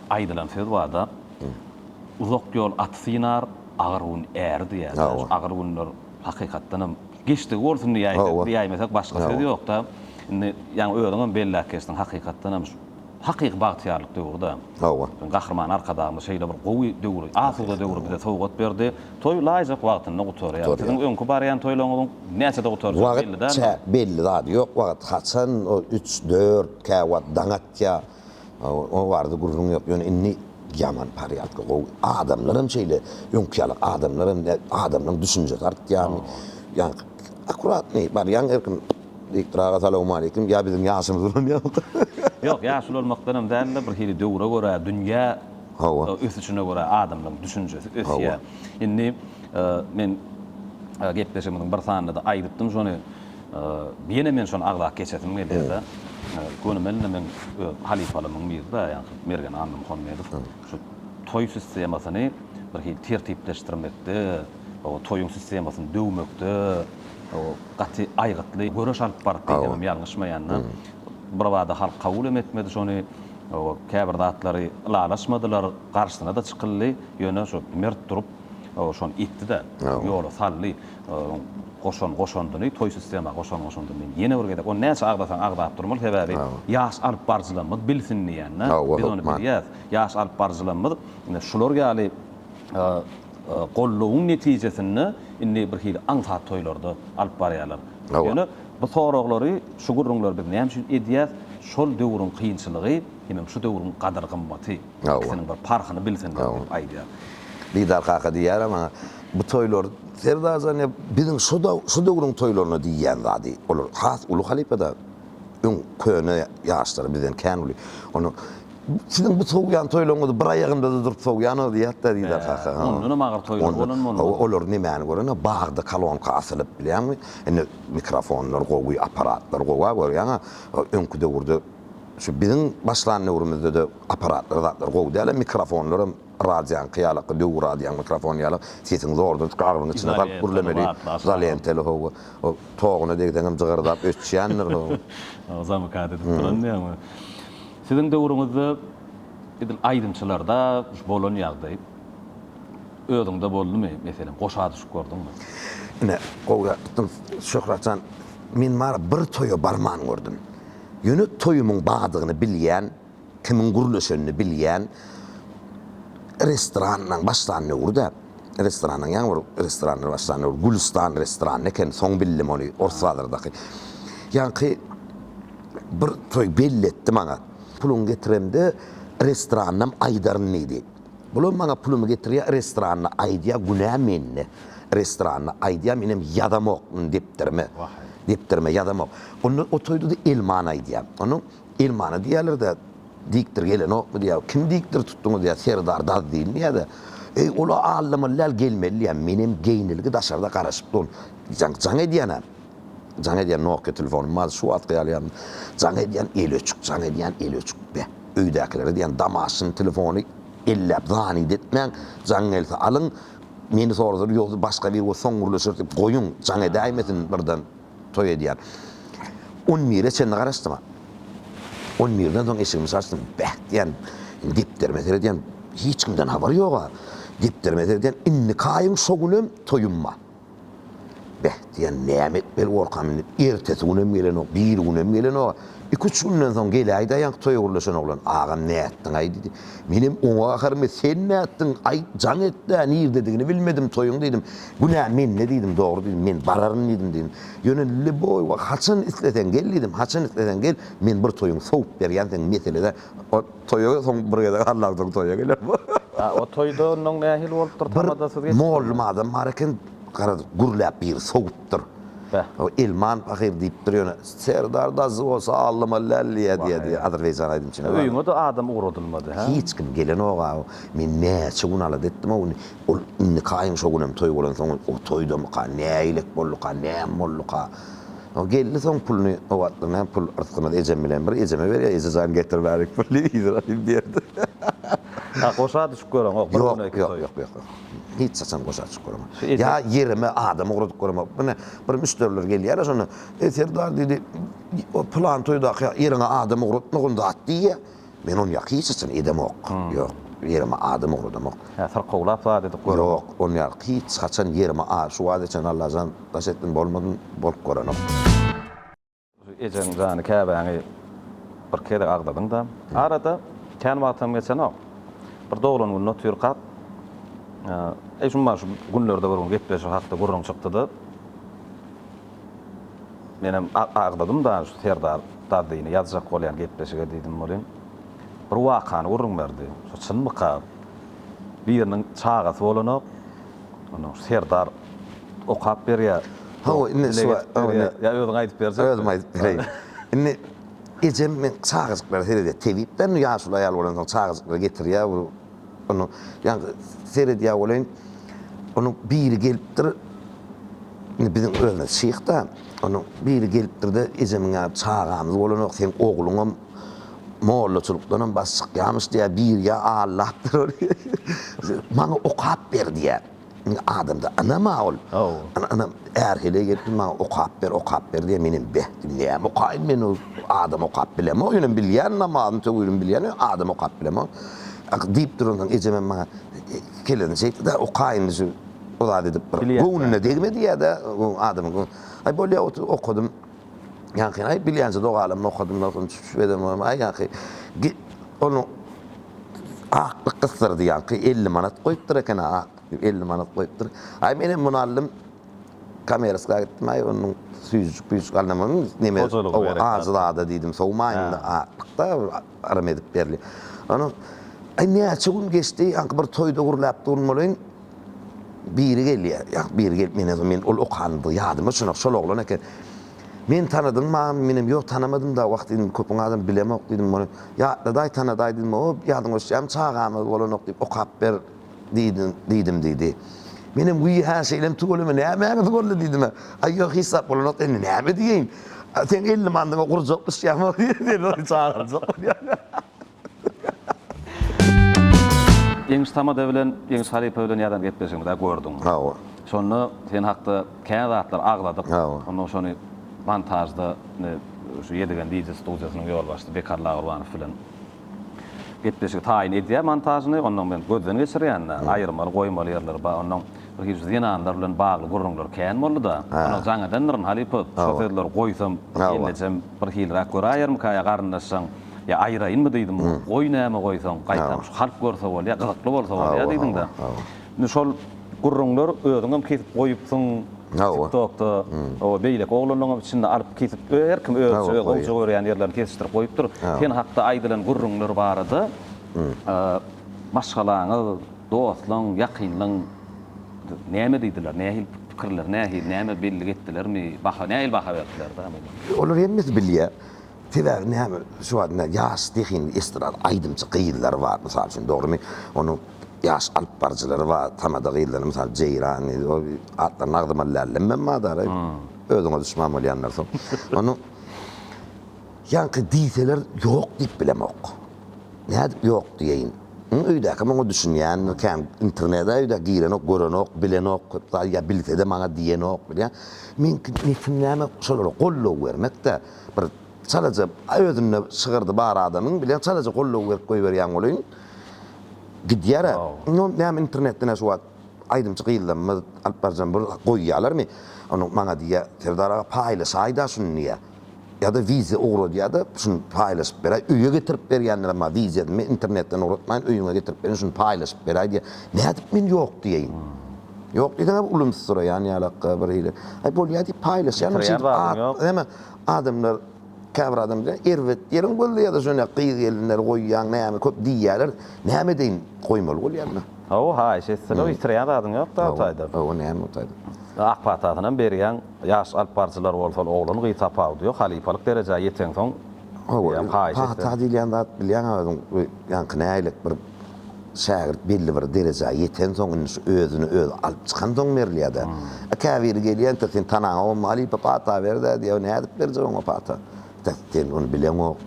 Aýdylan söz bar-da, Uzak ýol aty synar, agyr gün äri diýýärler. Agyr günler hakykatdanam geçdigi bolsun diýäýmesek, başga söz ýok-da. Indi, ýaňy özüňem belläp geçdiň, hakykatdanam şu hakyky bagtyýarlyk döwri-dä. Hawa. Gahryman Arkadagymyz şeýle bir gowy döwri, asuda döwri bize sowgat berdi. Toý laýyk wagtynda gutarýar. Siziň öňki barýan toýlaryňyzyň näçede gutarjagy belli däldir. Wagt belli zady ýok. Wagt haçan üç, dört, käwagt daň atýar. O barada gürrüň ýok. Ýöne indi ýaman porýadka gowy. Adamlaram şeýle. Öňki ýaly adamlaram däl. Adamlaryň düşünjesi artýarmy? Ýa akuratnyý barýaň her kim diýipdir aga salawmaleýkim. Ýa biziň ýaşymyz ulanýarmyka? Ýok, ýaş ulanmakdanam däl-de, bir hili döwre görä, dünýä ösüşine görä adamlaryň düşünjesi ösýär. Indi men gepleşigimiziň bir sanynda-da aýdypdym şony. Ýene men şony agzap geçesim gelýärde, gönümel-de men öz halypalymyň biri-dä, ýagny şu Mergen Annamuhammedow şu toý sistemasyny bir hili tertipleşdirmekde, o toýuň sistemasyny döwmekde gaty aýgytly göreş alyp barypdy diýsemem ýalňyşmaýan-da. Birbada halk kabul hem etmedi şony, käbir zatlary ylalaşmadylar, garşysyna-da çykyldy, ýöne şu mert durup şony etdi-de, ýola saldy. Onuň goşan goşandyny, toý sistema goşan goşandyny men ýene bir gezek, ony näçe agzasaň agzap durmaly, sebäbi ýaş alyp baryjylarymyz bilsin diýen-de, biz ony bilýäs. Ýaş alyp baryjylarymyz ine şular ýaly goldawyň netijesinde indi birhili aňsat toýlarda alyp barýarlar. Ýöne bu soraglary, şu gürrüňleri biz näme üçin edýäs? Şol döwrüň kynçylygy, hemem şu döwrüň gadyr-gymmaty. Ikisiniň bir parhyny bilsinler diýip aýdýar. Didar kaka diýýär maňa, Bu toýlar, Serdarjan, ýa biziň şu döwrüň toýlaryna diýýän zady. Olar has uly halypa-da, öň köne ýaşlary bizden kän uly. Onda, Siziň bu sowýan toýlaryňyzy bir aýagymda-da durup sowýanok diýýärdi-da Didar kaka. Hä, ondanam agyr toýlar bolan bolmaly. Hawa, olar nemäni göreniňä, bagda kolonka asylyp, bilýäňmi? Indi mikrofonlar gowy, apparatlar gowa, görýäňä. Öňki döwürde, şu biziň başlan döwrümizde-de Apparatlar zatlar gowy dälem mikrofonlaram radýaňky ýalakda döwür radýaň mikrofony ýalak sesiň zordur gabyň içine salyp gürlemeli izolenteli hawa o toguna degseňem jygyrdap öçýändir hawa zamykat edip duran diýäňmi siziň döwrüňizde edil aýdymçylarda şu bolan ýagdaý özüňde boldumy meselem goşa düşüp gördüňmi. Ine gowy zat tutdyň Şöhratjan men bar bir toýa barman gördüm ýöne toýumyň badygyny bilýän. Kimiň gürleşenini bilýän restoranyň başlanöwri-de, restoranyň ýaňy bir restoranlar başlanöwri Gülüstan restorany ekeni, soň bildim ony, Ors bazardaky. Ýaňky bir toý belli etdi maňa. Puluňy getiremde restoranynam aýdaryn diýdi. Bulam maňa pulumy getirýär, restoranyny aýdýar, günä mende. Restoranyny aýdýar, menem ýazamok depderime. Wah-eý. Depderime ýazamok. Onda o toýda-da elmany aýdýar. Onda Elmana diýýäler-dä, dikdir gelenokmy diýýär. Kimi dikdir tutduňyz diýýär, serdar daz diýilmeýär-dä. Eý, ol-a aldamaly däl, gelmeli diýýär. Menem geýnilgi daşarda garaşyp durun. Jaň, jaň edýän-ä. Jaň edýän Nokia telefonym bardy, şu wagtky ýaly ýaňy. Jaň edýän, eli öçük, jaň edýän, eli öçük. Be, öýdäkilere diýýän, Damaşyny telefony elläp zanýet etmäň, jaň gelse alyň, meni soradylar, ýogsa başga biri bolsa soň gürleşeris diýip goýuň, jaň edäýmesin birden. toý edýän. On bire çenli garaşdyma. On birden soň eşigimi çaçdym. Beh diýýän. Indi depderime seredýän. Hiç kimden habar ýog-a. Depderime seredýän. Indiki aýyň şo günem toýum bar. Beh diýýän. Näme etmeli bolkam indi? Ertesi günem gelenok, biri günem gelenok. Iki-üç günden soň geläý daýank toýa gürleşen oglan. Agam nätdiň-aý? diýdi. Menem oňa gaharym. Sen nätdiň? Aýt, jaň et-dä. Nirdedigini bilmedim toýuň diýdim. Günä mende diýdim, dogry diýdim, men bararyn diýdim diýdim. Ýöne Leboýewa haçan isleseň gel diýdim, haçan isleseň gel, men bir toýuň sowup berýän sen meselede o toýa soň bir gezek Allaň soň toýa geler bu. A o toýda onnoň nähili bolupdyr tamadasyz geçipdirmi? Bir mollum adam bar eken garaz gürläp biri sowupdyr. Beh. O Elman pahyr diýipdir ýöne Serdar dazy bolsa allama lälliýä diýýä diýýä azerbaýjan aýdymçyna. Öýüňe-de adam ugradylmady hä? Hiç kim gelenok-a. Men näçe gün alada etdim o güni. Ol indiki aýyň şo günem toý bolansoň, o toýdamyka, nälelik bolduka, näme bolduka? O geldi soň puluny, o wagtlar näme pul yrsgymyz ejem bilen bir, ejeme berýär, Eje jan getir bärik pul diýip, yzyna alyp berdi. Ýa goşa düşüp göreňok, bir güne iki toý. Ýok, ýok, ýok, hiç haçan goşa düşüp göreňok. Ýa ýerime adam ugradyklarym bor. Ine, bir müşderiler gelýärler, şonda, Eý Serdar diýdi, o pylan toýdaky ýeriňe adam ugratmagyn zat diýýä. Men ony ýa hiç haçan edemok, ýok, ýerime adam ugradamok. Ýa syrkawlap zat edip göremok. Ýok, ony ýa hiç haçan ýerime a şu wagta çenli Allajan daş etdim bolmadym, bolup görenok. Ejeň jany käbäňi bir gezek agzadyň-da. Arada kän wagtam geçenok. Bir doglan gününe otyrkak, eý, şum-a şu günlerde bir gün gepleşik hakda gürrüň çykdy-da. Menem agzadym dagy şu Serdar Dazyny ýazjak bolýan gepleşige diýdim welin, bir wakany gürrüň berdi. Şu çynmyka? Biriniň çagasy bolanok. Ondan şu Serdar okap berýär. Hawa, indi şu wagt ony. Ýa özüň aýdyp berjekmi? Özüm aýdyp bereýin. Indi ejem men çagajyklara seredýär. Tebip-de indi ýaşuly aýal bolansoň çagajyklary getirýär. Onuň, ýa-da seredýär bolaýyn, onuň biri gelipdir, indi biziň özümiz şyh-da, onuň biri gelipdir-de, Ejemiň ýaly çagamyz bolanok, seň ogluňam mollaçylykdanam baş çykýarmyş diýýär, biri ýa-da allapdyr ony, maňa okap ber diýýär. Indi adamda ynam-a ol. Ana, ynam, är heleý gelip dur, maňa okap ber, okap ber diýýär. Menem beh diýdim. Näme okaýyn men, ol adam okap bilemok. Ýöne bilýän, namazyny, töwibini bilýän, adam okap bilemok. Diýip duransoň, ejem hem maňa kelläni çeýtdi-de, oka indi şu, o zady edip bir göwnüne degme diýýär-de, adamyň göwnüne. Aý, bolýa, otur, okadym. Ýaňky, aý, bilýänçä dogalamda okadym, dostum, çüp-çüp eden boldum. Aý, ýaňky, git, onuň aklyk gysdyrdy, ýaňky, elli manat goýupdyr eken-ä, aklyk diýip, elli manat goýupdyr. Aý, menem muny aldym, komersiýa gitdim, aý, onuň süýjüjik-püýjüjik alynam boldy, neme, Hojalyga gerek zat. Ajy zada diýdim, sowmaýyn-da, aklyk-da, yrym edip berli. Onuň, aý, näçe gün geçdi, ýaňky bir toýda gürläp duran bolaýyn. Biri gelýär, ýa-da biri gelip meni ýa-da men ol okandy, ýadyma düşenok, şol oglan eken. Meni tanadyňmy agam? Menem, Ýok, tanamadym-da, wah diýdim, köpüň adamy bilemok diýdim, muny ýatladaý, tanadaý diýdim, O, ýadyňa düşýärmi, çagamyz bolanok diýip, okap ber diýdim, diýdim diýdi. Menem, Wiý-hä, şeýlem tüweleme, nämäňiz boldy diýdim-ä. Aý, ýok, hiç zat bolanok diýdi. Indi näme diýeýin? Seň elli mandyňa gurjak düşýärmi? Seni çagyryjak bolýar. Ýeňiş Tamada bilen, Ýeňiş halypa bilen ýadan gepleşigiňizi-ä gördüň. Hawa. Şonda sen hakda kän zatlar agzadyk. Hawa. Onnoň şony montažda, indi şu Ýedigen wideo studiýasynyň ýolbaşçysy Bekar Lagurbanow bilen gepleşigi taýyn edýär montažyny. Onnoň men gözden geçirýän-de, aýyrmaly, goýmaly ýerleri bar. Onnoň ilkinji şu zenanlar bilen bagly gürrüňler kän boldy-da. Onnoň jaň edendirin, halypa, şu sözleri goýsam, ellejem birhiliräk göräýermikä ýa garyndaşjaň? Ýa aýyraýynmy diýdim. Goý näme goýsaň, gaýtam şu halk görse bolýa, gyzykly bolsa bolýa diýdiň-de. Indi şol gürrüňler özüňem kesip goýupsyň TikTokda, oba beýleki oglanlaňam içinde alyp kesip, her kim özüçe öz gowja görýän ýerlerini kesişdirip goýupdyr. Sen hakda aýdylan gürrüňler barada maşgalaňyz, dostlaň, ýakynlaň näme diýdiler, nähili pikirleri nähili, näme bellik etdilermi, baha nähili baha berdiler-dä muňa? Olar hemmesi bilýä. Sebäbi näme, şu wagt näme, ýaş zehinli estrada aýdymçy gyzlar bar, mysal üçin, dogrymy? Onuň ýaş alypbaryjylary bar, tamada gyzlary, mysal, Jeýran, atlaryny agzyma lällemmem madary, özüňe duşman bolýanlar soň. Onuň, ýaňky diýseler, ýok diýip bilemok. Nädip ýok diýeýin? Ýa öýdäkim oňa düşünýändir, kän internede öýdä girenok, görenok, bilenok, köp zat, ýa bilse-de maňa diýenok, bilýän. Meňki niýetim näme, şolara goldaw bermek-dä. bir çalaja özünde şygyrdy bar adamyň bile çalaja goldaw berip goýberýän bolaýyn. Gidýär-ä. Indi näme internetden-ä şu wagt aýdymçy gyzlarymyz alyp barjan bir goýýalarmy? Ony maňa diýýär, Serdar aga paýlaşaýda şuny diýýär. Ýa-da wideýa ugradýar-da, şuny paýlaşyp beräý. Öýe getirip berýänlerem bar, wideýany men internetden ugratmaýyn, öýüňe getirip berin, şuny paýlaşyp beräý diýýär. Nädip men ýok diýeýin? Ýok diýseň hem ulumsyraýan ýalakka bir hili. Aý bolýar diýip paýlaşýaryn şeýdip at näme adamlar käbir adam diýýär erbet ýeriň gözleýärde şonda gyz gelinleri goýýaň näme köp diýýärler näme edeýin goýmaly bolýar men. Hawa haýyş etseler ýitirýän zadyň ýok da o taýdan. Hawa näme o taýdan. Ak patasyny hem berýäň ýaş alyp baryjylar bolsa oglan gyz tapawudy ýok halypalyk derejä ýeteňsoň haýyş etseler. Pata diýilýän zat bilýäňä özüň ýaňky nägilek bir şägirt belli bir derejä ýetensoň, indi şu özüni özi alyp çykansoň berilýär-de. A käbiri gelýär, entek seniň tanaňa bolma, halypa pata ber-dä diýýär. O nädip berjek oňa pata? Entek sen ony bileňok.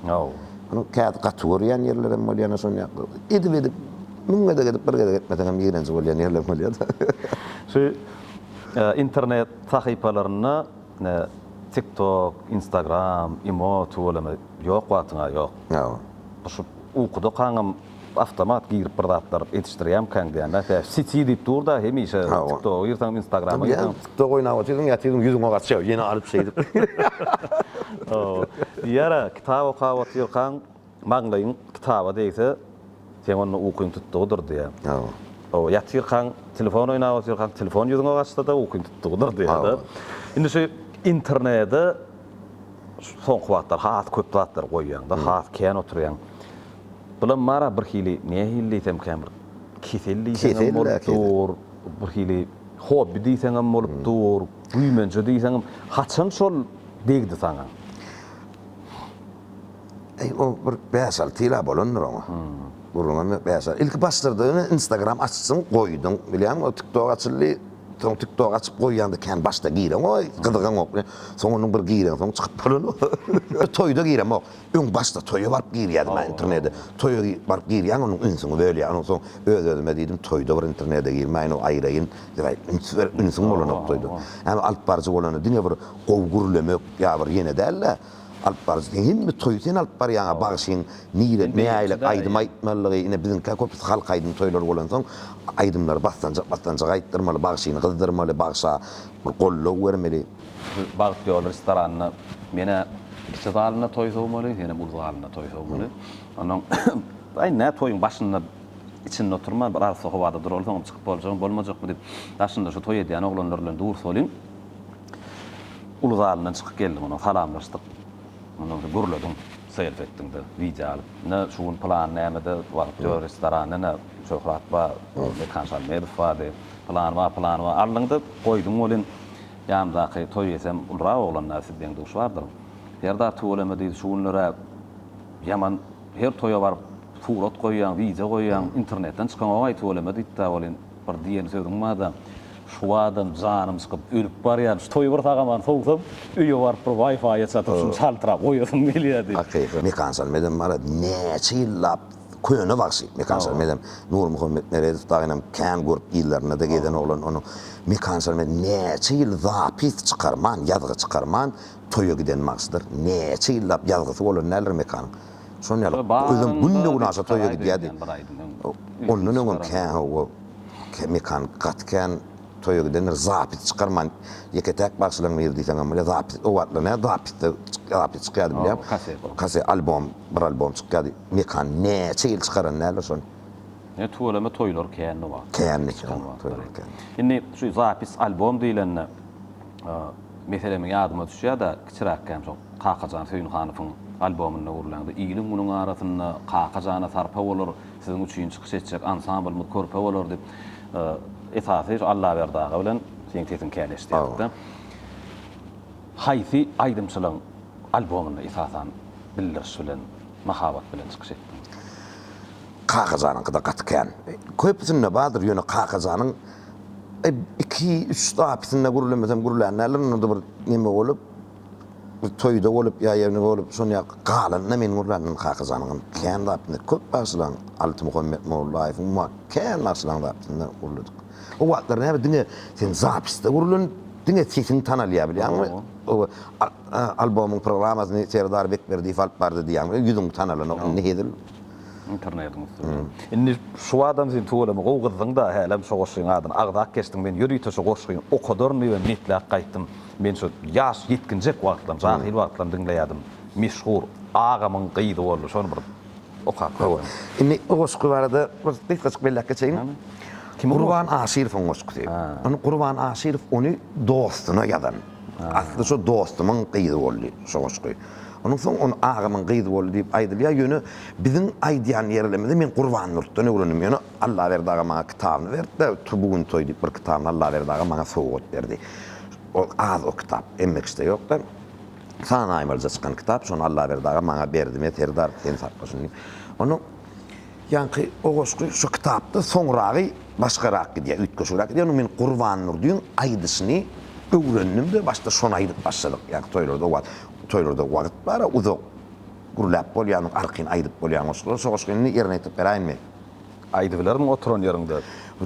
Munuň käte gaty görýän ýerlerem bolýar, ine şon ýakda. Edip-edip, müň gezek edip, bir gezek etmeseňem ýigrenji bolýan ýerlem bolýar-da. Şu internet sahypalarynda, ine, TikTok, Instagram, imo, tuweleme, Ýok wagtyňa ýok. Ýok. Bu şu ukuda kaňam awtomat girip bir zatlar edişdirýämkäň diýýänä tä siti diýip durda hemişe tiktoga girseňem instagrama girseňem. Tiktok oýnap otyrsyň ýatyrsyň ýüzüňe gaçýar ýene alyp şeýdip. Diýýärä kitap okap otyrkaň maňlaýyň kitaba degse Seň onda ukyň tutdugydyr, diýýär. Hawa. Hawa, ýatyrkaň, telefon oýnap otyrkaň, telefon ýüzüňe gaçsa-da, ukyň tutdugydyr, diýýär-de. Indi şu internete soňky wagtlar has köp zatlar goýýaň-da, has kän oturýaň. Bulam bar-a birhili, nähili diýsemkä, bir kesel diýseň hem bolup dur, birhili hobbi diýseň hem bolup dur, güýmenje diýseň hem. Haçan şol degdi saňa? Eý o bir bäş alty ýyla bolandyr oňa. Gürrüňem ýok bäş alty. Ilki başlardygyny instagram açsyn goýduň bilýäňmi o tiktok açyldy. Soň tiktok açyp goýýaňda kän başda gireňoý gyzygaňok bilen. Soň onuň bir gireň soň çykyp bolanok. Bir toýda giremok. Öň başda toýa baryp girýärdim ha internede. Toýa baryp girýäň onuň ünsüňi bölýär. Onuň soň öz özüme diýdim toýda bir internede girmäýin o aýraýyn. Üns ber ünsüň bolanok toýda. Ýani alyp baryjy bolanda diňe bir Gowy gürlemek ýa bir ýene däl-de, alyp baryjy sen hemme toýy sen alyp barýaňa bagşyň nirede näýlek aýdym aýtmalygy ine biziňkä köpüsi halk aýdym toýlary bolansoň aýdymlary basdanjak basdanjak aýtdyrmaly bagşyny gyzdyrmaly bagşa bir goldaw bermeli. Şu bagt ýoly restoranynda menä kiçi zalynda toý sowmaly senem uly zalynda toý sowmaly onnoň aý nä toýuň başynda içinde oturman bir arassa howada duraly soňam çykyp boljagmy bolmajakmy diýip daşynda şu toý edýän oglanlar bilen durs bolyň. Uly zalyndan çykyp geldiň onuň salamlaşdyk. Ondan soň gürlediň selfi etdiňde wideo alyp. Ine şu gün pylan nämede wagt ýok restoranda ine Şöhrat bar, Mekan Şalmedow bardy, pylany bar, pylany bar aldyňda goýduň welin ýanymdaky toý eýsem ulurak oglanlar siz deň duş bardyr. Serdar tüweleme diýdi şu günlerä ýaman her toýa baryp surat goýýaň wideo goýýaň internetden çykanok-aý tüweleme diýipdä welin. Bir diýen sözüň barda, şu adam janym çykyp ölüp barýan, şu toýy bir sagamany sowsam, öýe baryp bir waýfaýa çatyp şuny çaltrak goýasym gelýär diýip. Hakyky. Mekan şal medem mara näçe ýyllap köne bagşy Mekan şal medem. Nurmuhammet Meredow dagynam kän görüp ýyllarynda-da gezen oglan onuň Mekan şal medem näçe ýyl zapis çykarman, ýazgy çykarman toýa giden bagşydyr. Näçe ýyllap ýazgysy bolan däldir Mekanyň. Şonuň ýaly, özem günde günaşa toýa gidýärdi. Ondan öňem kän hawa, mekan gaty kän toýa gidendir, zapis çykarman, ýeke-täk bagşylaryň biri diýseňem bolýar, zapis, o wagtlar nädip zapisde, zapis çykýardy bilýäň, kaset, albom, bir albom çykýardy, mekan näçe ýyl çykaran däldir şony. Ýöne tüweleme toýlar kändi o wagtlar. Kändi, toýlar kändi. Indi şu zapis, albom diýlende, Meselem, ýadyma düşýär-de, kiçiräkkäm şol Kakajan Söýünhanowyň albomynda gürlände, Iliň-munuň arasynda Kaka jana sarpa bolar, Siziň üçin çykyş etjek ansamblymyz körpe bolar diýip, esasy şu Allaberdi aga bilen seniň sesiň käleşdirdik-de. Haýsy aýdymçylaryň albomynda esasan bildiriş bilen, mahabat bilen çykyş etdiň? Kakajanyňky-da gaty kän. Köpüsinde bardyr, ýöne Kakajanyň Iki, üç zapysyna gürlemesem gürlän däldir, onda bir neme bolup, bir toýda bolup ýa ýerinde bolup, şonda galanda men gürländim Kakajanyňam kän zapysyna, köp bagşylaryň, Altymuhammet Mollaýewiň bar, kän bagşylaryň zapysyna gürledik. O wagtlar näme diňe sen zapysda gürlenip, diňe sesiň tanalýar bilýäňmi? Oba, albomyň programmasyny Serdar Bekberdiýew alyp bardy diýýärmiň, ýüzüň tanalanda onda hezil. Internetiň üstünde. Indi şu adam sen tüweleme gowy gyzdyň-da, hälem şo goşgyň adyny agzap geçdiň. Men ýörite şo goşgyny okadaryn diýibem niýetläp gaýtdym. Men şo ýaş ýetginjek wagtlarym, jahyl wagtlarym diňleýärdim. Meşhur agamyň gyzy boldy, şony bir okap görüň. Indi o goşgy barada bir gysgajyk belläp geçeýin. Gurban Aşyrowyň goşgusy. Ony Gurban Aşyrow ony dostuna ýazan. Asly şo dostumyň gyzy boldy şo goşgy. Onuň soň ony agamyň gyzy boldy diýip aýdylýar, ýöne biziň aýdýan ýerlerimizi men Gurbannurtdan öwrendim. Ýöne Allaberdi aga maňa kitabyny berdi-de, tu bu gün toý diýip bir kitabyny Allaberdi aga maňa sowgat berdi. Ol az o kitap, emmekişde ýok-da. San aýmalyja çykan kitap, şony Allaberdi aga maňa berdi. Men Serdar sen sakla şuny diýip. Onuň ýaňky o goşgy şu kitapda soňragy başgarak gidýär, üýtgeşigrak gidýär. Ony men Gurbannurdyň aýdyşyny öwrendim-de, başda şony aýdyp başladyk, ýaňky toýlarda o wagt. Toýlarda wagyt bar-a uzak. Gürläp bolýanyň arkyny aýdyp bolýan goşgular. Şo goşgy indi ýerine ýetirip beräýinmi? Aýdybilermiň oturan ýeriňde?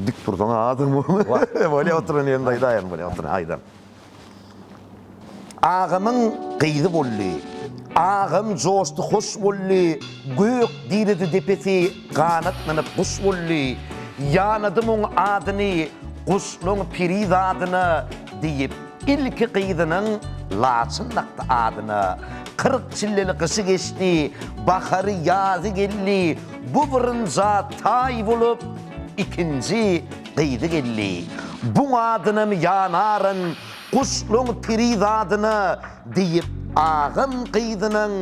Dik tursaň-a azdyr muny. Bolýa oturan ýerinde aýdaýaryn, bolýa oturan aýdaryn. Agamyň gyzy boldy. Agam joşdy hoş boldy, Gök diredi depesi ganatlanyp guş boldy. Ýanadym oň adyny, Guşlaň piri zadyna, Diýip. Ilki gyzynyň Laçyn dakdy adyna. Kyrk çilleli gyşy geçdi, bahary, ýazy geldi, bu bürünja taý bolup, ikinji gyzy geldi. Buň adynam ýanaryn, guşlaň piri zadyna, diýip, agam gyzynyň.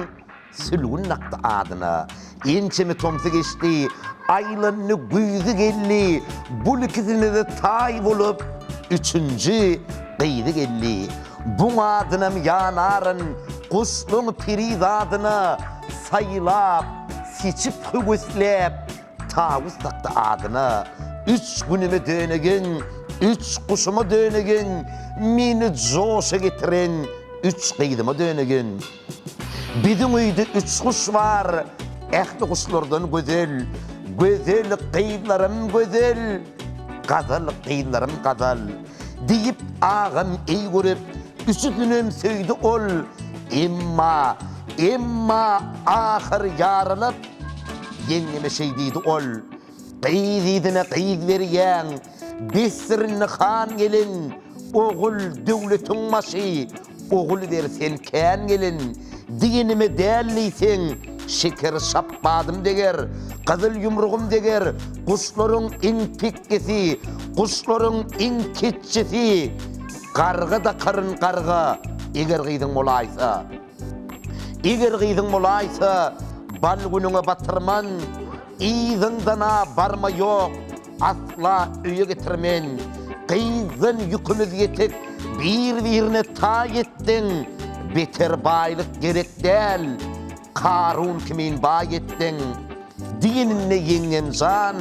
Sülgün dakdy adyna. Ençeme tomsy geçdi. Aýlandy, güýzi geldi. Bul ikisine-de taý bolup, üçünji gyzy geldi. Buň adynam ýanaryn, guşlaň piri zadyna. Saýlap, seçip, höwesläp, Tawus dakdy adyna. Üç günüme döneýin, üç guşuma döneýin, meni joşa getiren üç gyzyma döneýin. Biziň öýde üç guş bar, ähli guşlardan gözel, Gözel gyzlarym gözel, gazal gyzlarym gazal. Diýip, agam eý görüp, üçüsinem söýdi ol, Emma, emma ahyr ýaralap, ýeňňeme şeý diýdi ol, Gyz yzyna gyz berýäň, Dessirni han gelin, Ogul, döwletiň başy, Ogul ber sen kän gelin, Diýenime däl diýseň, Şeker şapbadym deger, Gyzyl ýumrugym deger, Guşlaryň iň pekkisi, Guşlaryň iň ketjisi, Garga dakaryn garga, Eger gyzyň bolaýsa. Eger gyzyň bolaýsa, bal günüňe batyrman, Yzyňdan-a barma ýok, asla öýe getirmen. Gyzdan ýükümiz ýetik, bir-birine taý etdiň, Beter baýlyk gerek däl, Karun kimin baý etdiň. Diýeninde ýeňňem jan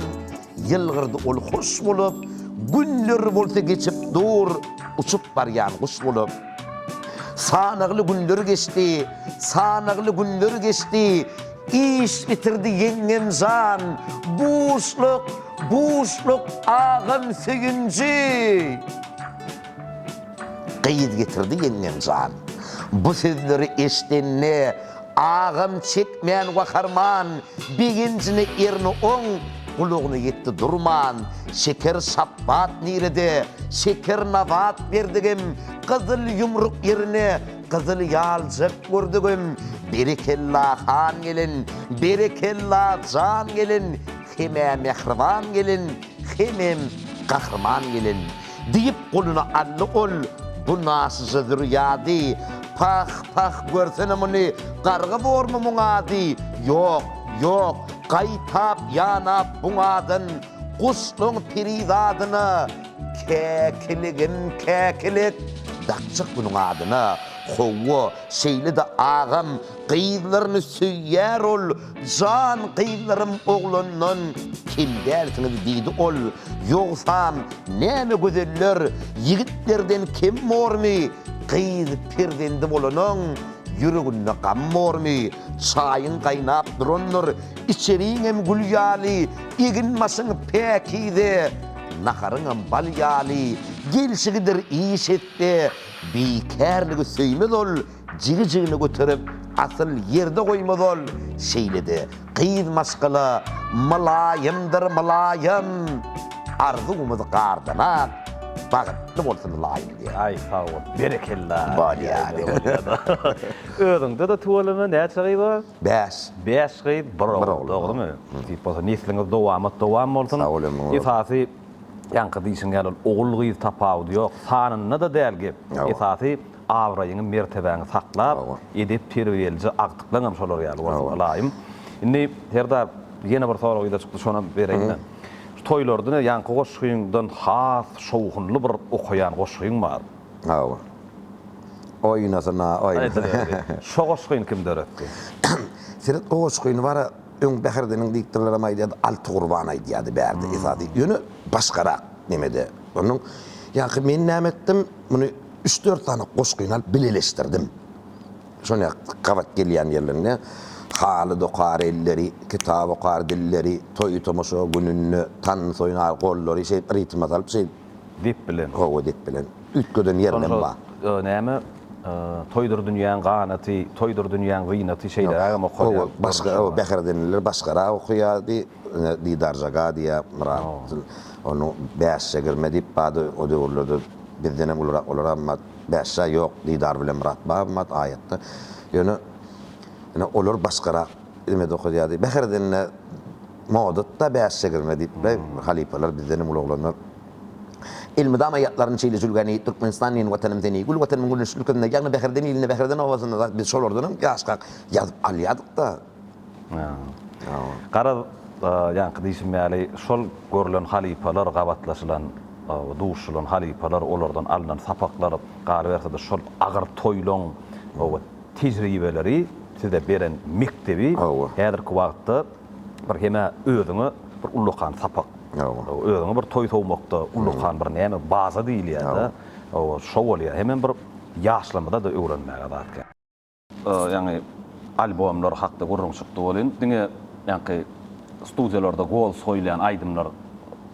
ýylgyrdy ol hoş bolup, Günler bolsa geçip dur, uçup barýan guş bolup. Sanagly günler geçdi, sanagly günler geçdi, Iş bitirdi ýeňňemjan, buşluk, buşluk agam söýünji. Gyz getirdi ýeňňemjan. Bu sözleri eşdende Agam çekmän waharman, Begenjine erini oň Gulagyna ýetdi durman. Şeker şapbat nirede, Şeker nabat berdigim, Gyzyl ýumruk ýerine Gyzyl ýaljak gördigim. Berekella han gelin, Berekella jan gelin, Hemä mähriban gelin, Hemem gahryman gelin. Diýip, goluny aldy ol, Bu naşyja zürýady! Pah, pah, görsene muny, garga bormy muň ady? Ýok, ýok, gaýtap, ýanap buň adyn Guşlaň piri zadyna, Käkiligim, käkilik, dakjak bunuň adyna. Hawa, şeýle-de agam, gyzlaryny söýýär ol, Jan gyzlarym oglandan kem dälsiňiz diýdi ol, ýogsam näme gözeller ýigitlerden kem bormy, gyz perzendi bolanyň ýüreginde gam bormy, çaýyň gaýnap durandyr, içeriňem gül ýaly, eginbaşyň päkize, naharyňam bal ýaly, gelşigidir iş etse, bikärligi söýmez ol, Jigi jigini göterip asyl ýerde goýmaz ol şeýlede gyz maşgala mylaýymdyr mylaýym arzuwymyz gardanak bagytly bolsun ylaýym diýýän. Aý sag bol berekella. Özüňdede tüweleme näçe gyz bar? Bäş. Bäş gyz bir ogul dogrymy? Nesip bolsa nesliňiz dowamat dowam bolsun. Sag bol ömrüň uzak. Esasy ýaňky diýşiň ýaly ol ogul gyz tapawudy ýok sanynda-da däl gep esasy Abraýyňy, mertebäňi saklap, edep-terbiýelije agtyklaňam şolar ýaly bolsun, ylaýym. Indi, Serdar, ýene bir sorag ýüze çykdy, şonam bereýin-le. Şu toýlarda ýaňky goşgyňdan has şowhunly bir okaýan goşgyň bar. Hawa. Oýnasyna, oýnasyna. Şo goşgyny kim döretdi? Seret, o goşgyny bara öň Bäherdiniň diktorlaram aýdýardy, Alty Gurban aýdýardy bärde esasy. Ýöne başgarak nemede. Onuň, ýaňky men näme etdim? Muny üç-dört sany goşgyny alyp bileleşdirdim. Şonda gabat gelýän ýerlerinde haly dokar elleri, kitap okar dilleri, toý-tomaşa gününde tans oýnar gollary şeýdip ritme salyp şeýdip. Dep bilen. Hawa dep bilen. Üýtgeden ýerinem bar. Şonda näme Toýdur dünýäň ganaty, Toýdur dünýäň zynaty şeýlerägem okalýar. Hawa başga o Bähredenliler başgarak okaýardy. Ine, Didarja ga diýýä Myrat. Onuň bäşje girme diýip bady o döwürlerde bizdenem ulurak olar amma bäşja ýok Didar bilen Myrat bar mat aýatda. Ýöne ine olar başgarak ime dokadýady. Bäherdende modatda bäşje girme diýip be halypalar bizdenem uly oglanlar. Elmydama ýatlaryn şeýle jülgäni Türkmenistan meniň watanym seni gül watanym güneşli ülkemde ýagny Bäherden ilinde Bäherden obasynda zat biz şolardanam ýaşkak ýazyp alýadykda. Garaz, ýaňky diýşim ýaly, şol görlen halypalar, gabatlaşylan, duşulan halypalar, olardan alnan sapaklar, galyberse-de, şol agyr toýlaryň tejribeleri, size beren mekdebi häzirki wagtda bir hem-ä özüňe bir ullakan sapak, özüňe bir toý sowmakda ullakan bir näme, baza diýilýär-de, oba, şo bolýar. Hemem bir ýaşlarymyza-da öwrenmäge zat. Ýaňy albomlar hakda gürrüň çykdy welin, diňe ýaňky studiýalarda gols goýulýan aýdymlar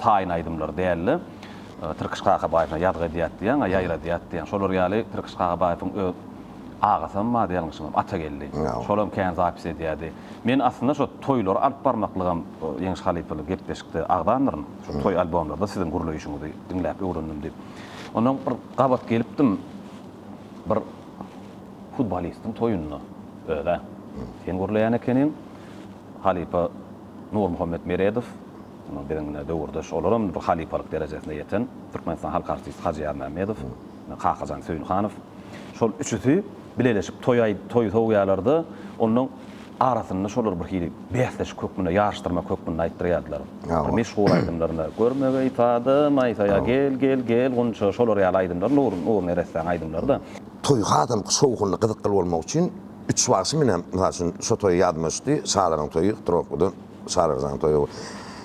taýyn aýdymlar däldi. Tirkiş Kakabaýewiň Ýazgy edýät diýýän, a Ýaýradýat diýýän. Şolar ýaly Tirkiş Kakabaýewiň öz agasam bardy ýalňyşmam, Atageldi. Şolam kän zapis edýärdi. Men aslynda şo toýlary alyp barmaklygam Ýeňiş halypaly gepleşikde agzandyryn. Şo toý albomlarda siziň gürleýşiňizi diňläp öwrendim diýip. Ondan bir gabat gelipdim. Bir. Futbolistiň toýunda öz-ä. Sen gürleýän ekeniň. Halypa Nurmuhammet Meredow, ýa-da biziň döwürdeş, olaram bir halypalyk derejesine ýeten, Türkmenistanyň halk artisti Hajy Ýazmämmedow, Kakajan Söýünhanow. Şol üçüsi bileleşip toý aý toý sowýarlar-da, onnoň arasynda şolary bir hili bäsleşik hökmünde, ýaryşdyrmak hökmünde aýtdyrýardylar. Bir meşhur aýdymlaryny, Görme geý, Sady maýsa, ýa Gel, gel, gel, Gunça, şolar ýaly aýdymlar, Nur, Nur neressäň aýdymlary-da. Toý hasalyk şowhunly gyzykly bolmak üçin üç bagşy menem mysal üçin şo toýa ýadyma düşdi şalaryň toýy htrowkadan şalarjanyň toýy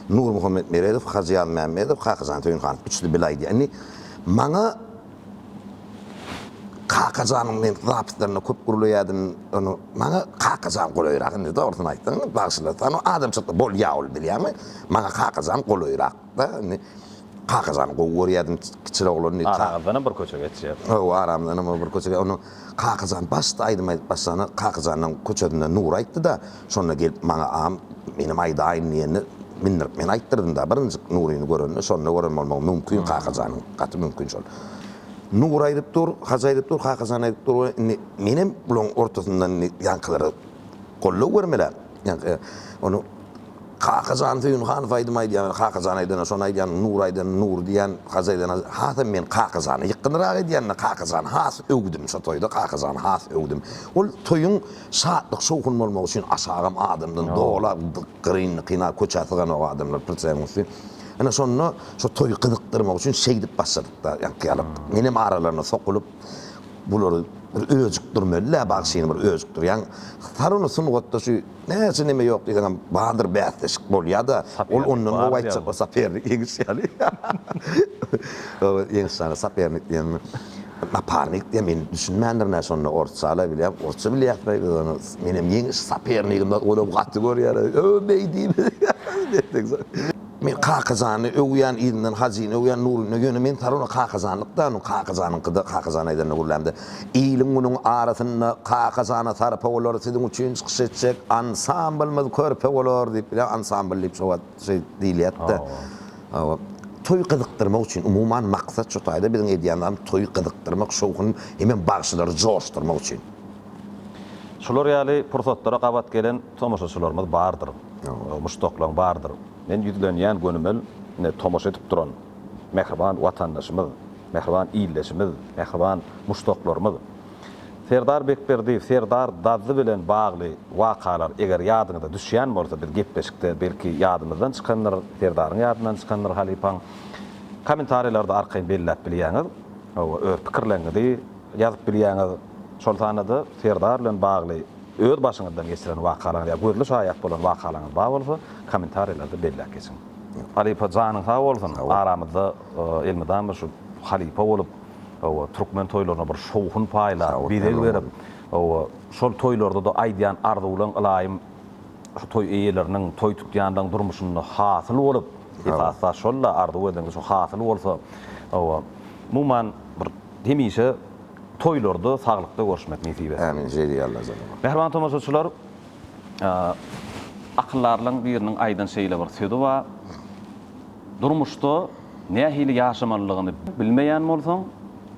nurmuhammet meredow hajy ýazmämmedow kakajany toýuny hanyň üçüsi bile aýdýar indi maňa kakajanyň men zapyslaryna köp gürleýädim ony maňa kakajan golaýrak indi dogrusyny aýtsaň bagşylar sany adamçylyk bolýa ol bilýäňmi maňa kakajan golaýrak. Aramyzda indi Kakamyzam gowy görýärdim kiçi oglan. Aramyzdanam bir köçe geçýär. Hawa, aramyzdanam bir köçe. Onuň Kakajan başda aýdym aýdyp başlanda Kakajanyň köçesinde Nury aýtdy-da, şonda gelip maňa agam menem aýdaýyn diýende mindirip men aýtdyrdym-da birinjik Nuryny görende. Şonda gören bolmagy mümkin Kakajanyň. Gaty mümkin şol. Nury aýdyp dur, Hajy aýdyp dur, Kakajan aýdyp dur we indi menem bularyň ortasyndan indi ýaňkylara goldaw bermelä. Ýaňky ony Kakajan Söýünhanow aýdym aýdýan Kakajan aýdana şony aýdýan Nur aýdana Nur diýýän Hajy aýdana hasam men Kakajany ýykgynrak edýänine Kakajany has öwdüm şo toýda Kakajany has öwdüm ol toýuň şatlyk şowhun bolmagy üçin aşagam adamdan dola gyryn kyna köçä syganok adamlar pritsýagyň üsti ine şonda şo toýy gyzykdyrmak üçin şeýdip başladykda ýaňkyýalyp menem aralaryna sokulyp bulary bir öjükdirmelidä bagşyny bir öjükdirýäň saruny sungatda şu Näçe neme ýok diýseňem bardyr bäsleşik bolýada ol ondan gowy aýtjak bolsa sapernik ýeňiş ýaly. Ýeňiş ýaly sapernik diýenmi naparnik diýen men düşünmändirin nä şonda orsçala bilýän orsça bilýäsmi biz ony menem ýeňiş sapernigimden olam gaty görýärin öw beý diýip. Men Kakajany öwýän yzyndan Hajyny öwýän Nuryny ýöne men Sarona Kakajanlykda onuň Kakajanyňkyda Kakajan aýdanyna gürlämde Iliň munuň arasynda kakajana sarpa bolar siziň üçin çykyş etjek ansamblymyz körpe bolar diýip bilýän ansambl diýip şo wagt şeý diýilýätdi. Hawa. Toý gyzykdyrmak üçin umuman maksat şo taýda biziň edýän zarymyz toýy gyzykdyrmak şowhun hemem bagşylary joşdurmak üçin. Şular ýaly pursatlara gabat gelen tomaşaçylarymyz bardyr. Muşdaklaň bardyr. Men ýüzlenýän gönümel ine tomaşa edip duran mähriban watandaşymyz Mähriban ildeşimiz, mähriban muşdaklarymyz! Serdar Bekberdiýew, Serdar Dazzy bilen bagly wakalar eger ýadyňyza düşýän bolsa, biz gepleşikde belki ýadymyzdan çykandyr, Serdaryň ýadyndan çykandyr halypaň. Kommentariýalarda arkaýyn belläp bilýäňiz. Hawa, öz pikirleriňizi ýazyp bilýäňiz. Şol sanda-da Serdar bilen bagly öz başyňyzdan geçiren wakalaryňyz ýa gözli şaýat bolan wakalaryňyz bar bolsa, kommentariýalarda belläp geçiň. Halypa janyň sag bolsun, aramyzda Elmydama bir şu halypa bolup, hawa, türkmen toýlaryna bir şowhun paýlap, bezeg berip, hawa, şol toýlarda-da aýdýan arzuwlaň ylaýym şu toý eýeleriniň, toý tutýanlaryň durmuşynda hasyl bolup, esasy zat şol-da, arzuw edeniňiz şu hasyl bolsa, hawa, umuman, bir hemişe toýlarda, saglykda görüşmek nesip etsin. Ämin, şeýdýäl-le, janyma. Mähriban tomaşaçylar, Akyldarlaň biriniň aýdan şeýle bir sözi bar, Durmuşda nähili ýaşamalydygyny bilmeýän bolsaň,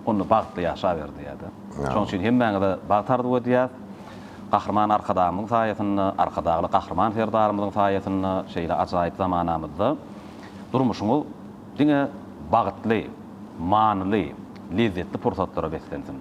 onda bagtly ýaşaber diýýär-de. Şonuň üçin hemmäňize bagt arzuw edýäs. Gahryman Arkadagymyzyň saýasynda, Arkadagly Gahryman Serdarymyzyň saýasynda şeýle ajaýyp zamanamyzda durmuşyňyz diňe bagtly, manyly, lezzetli pursatlara beslensin.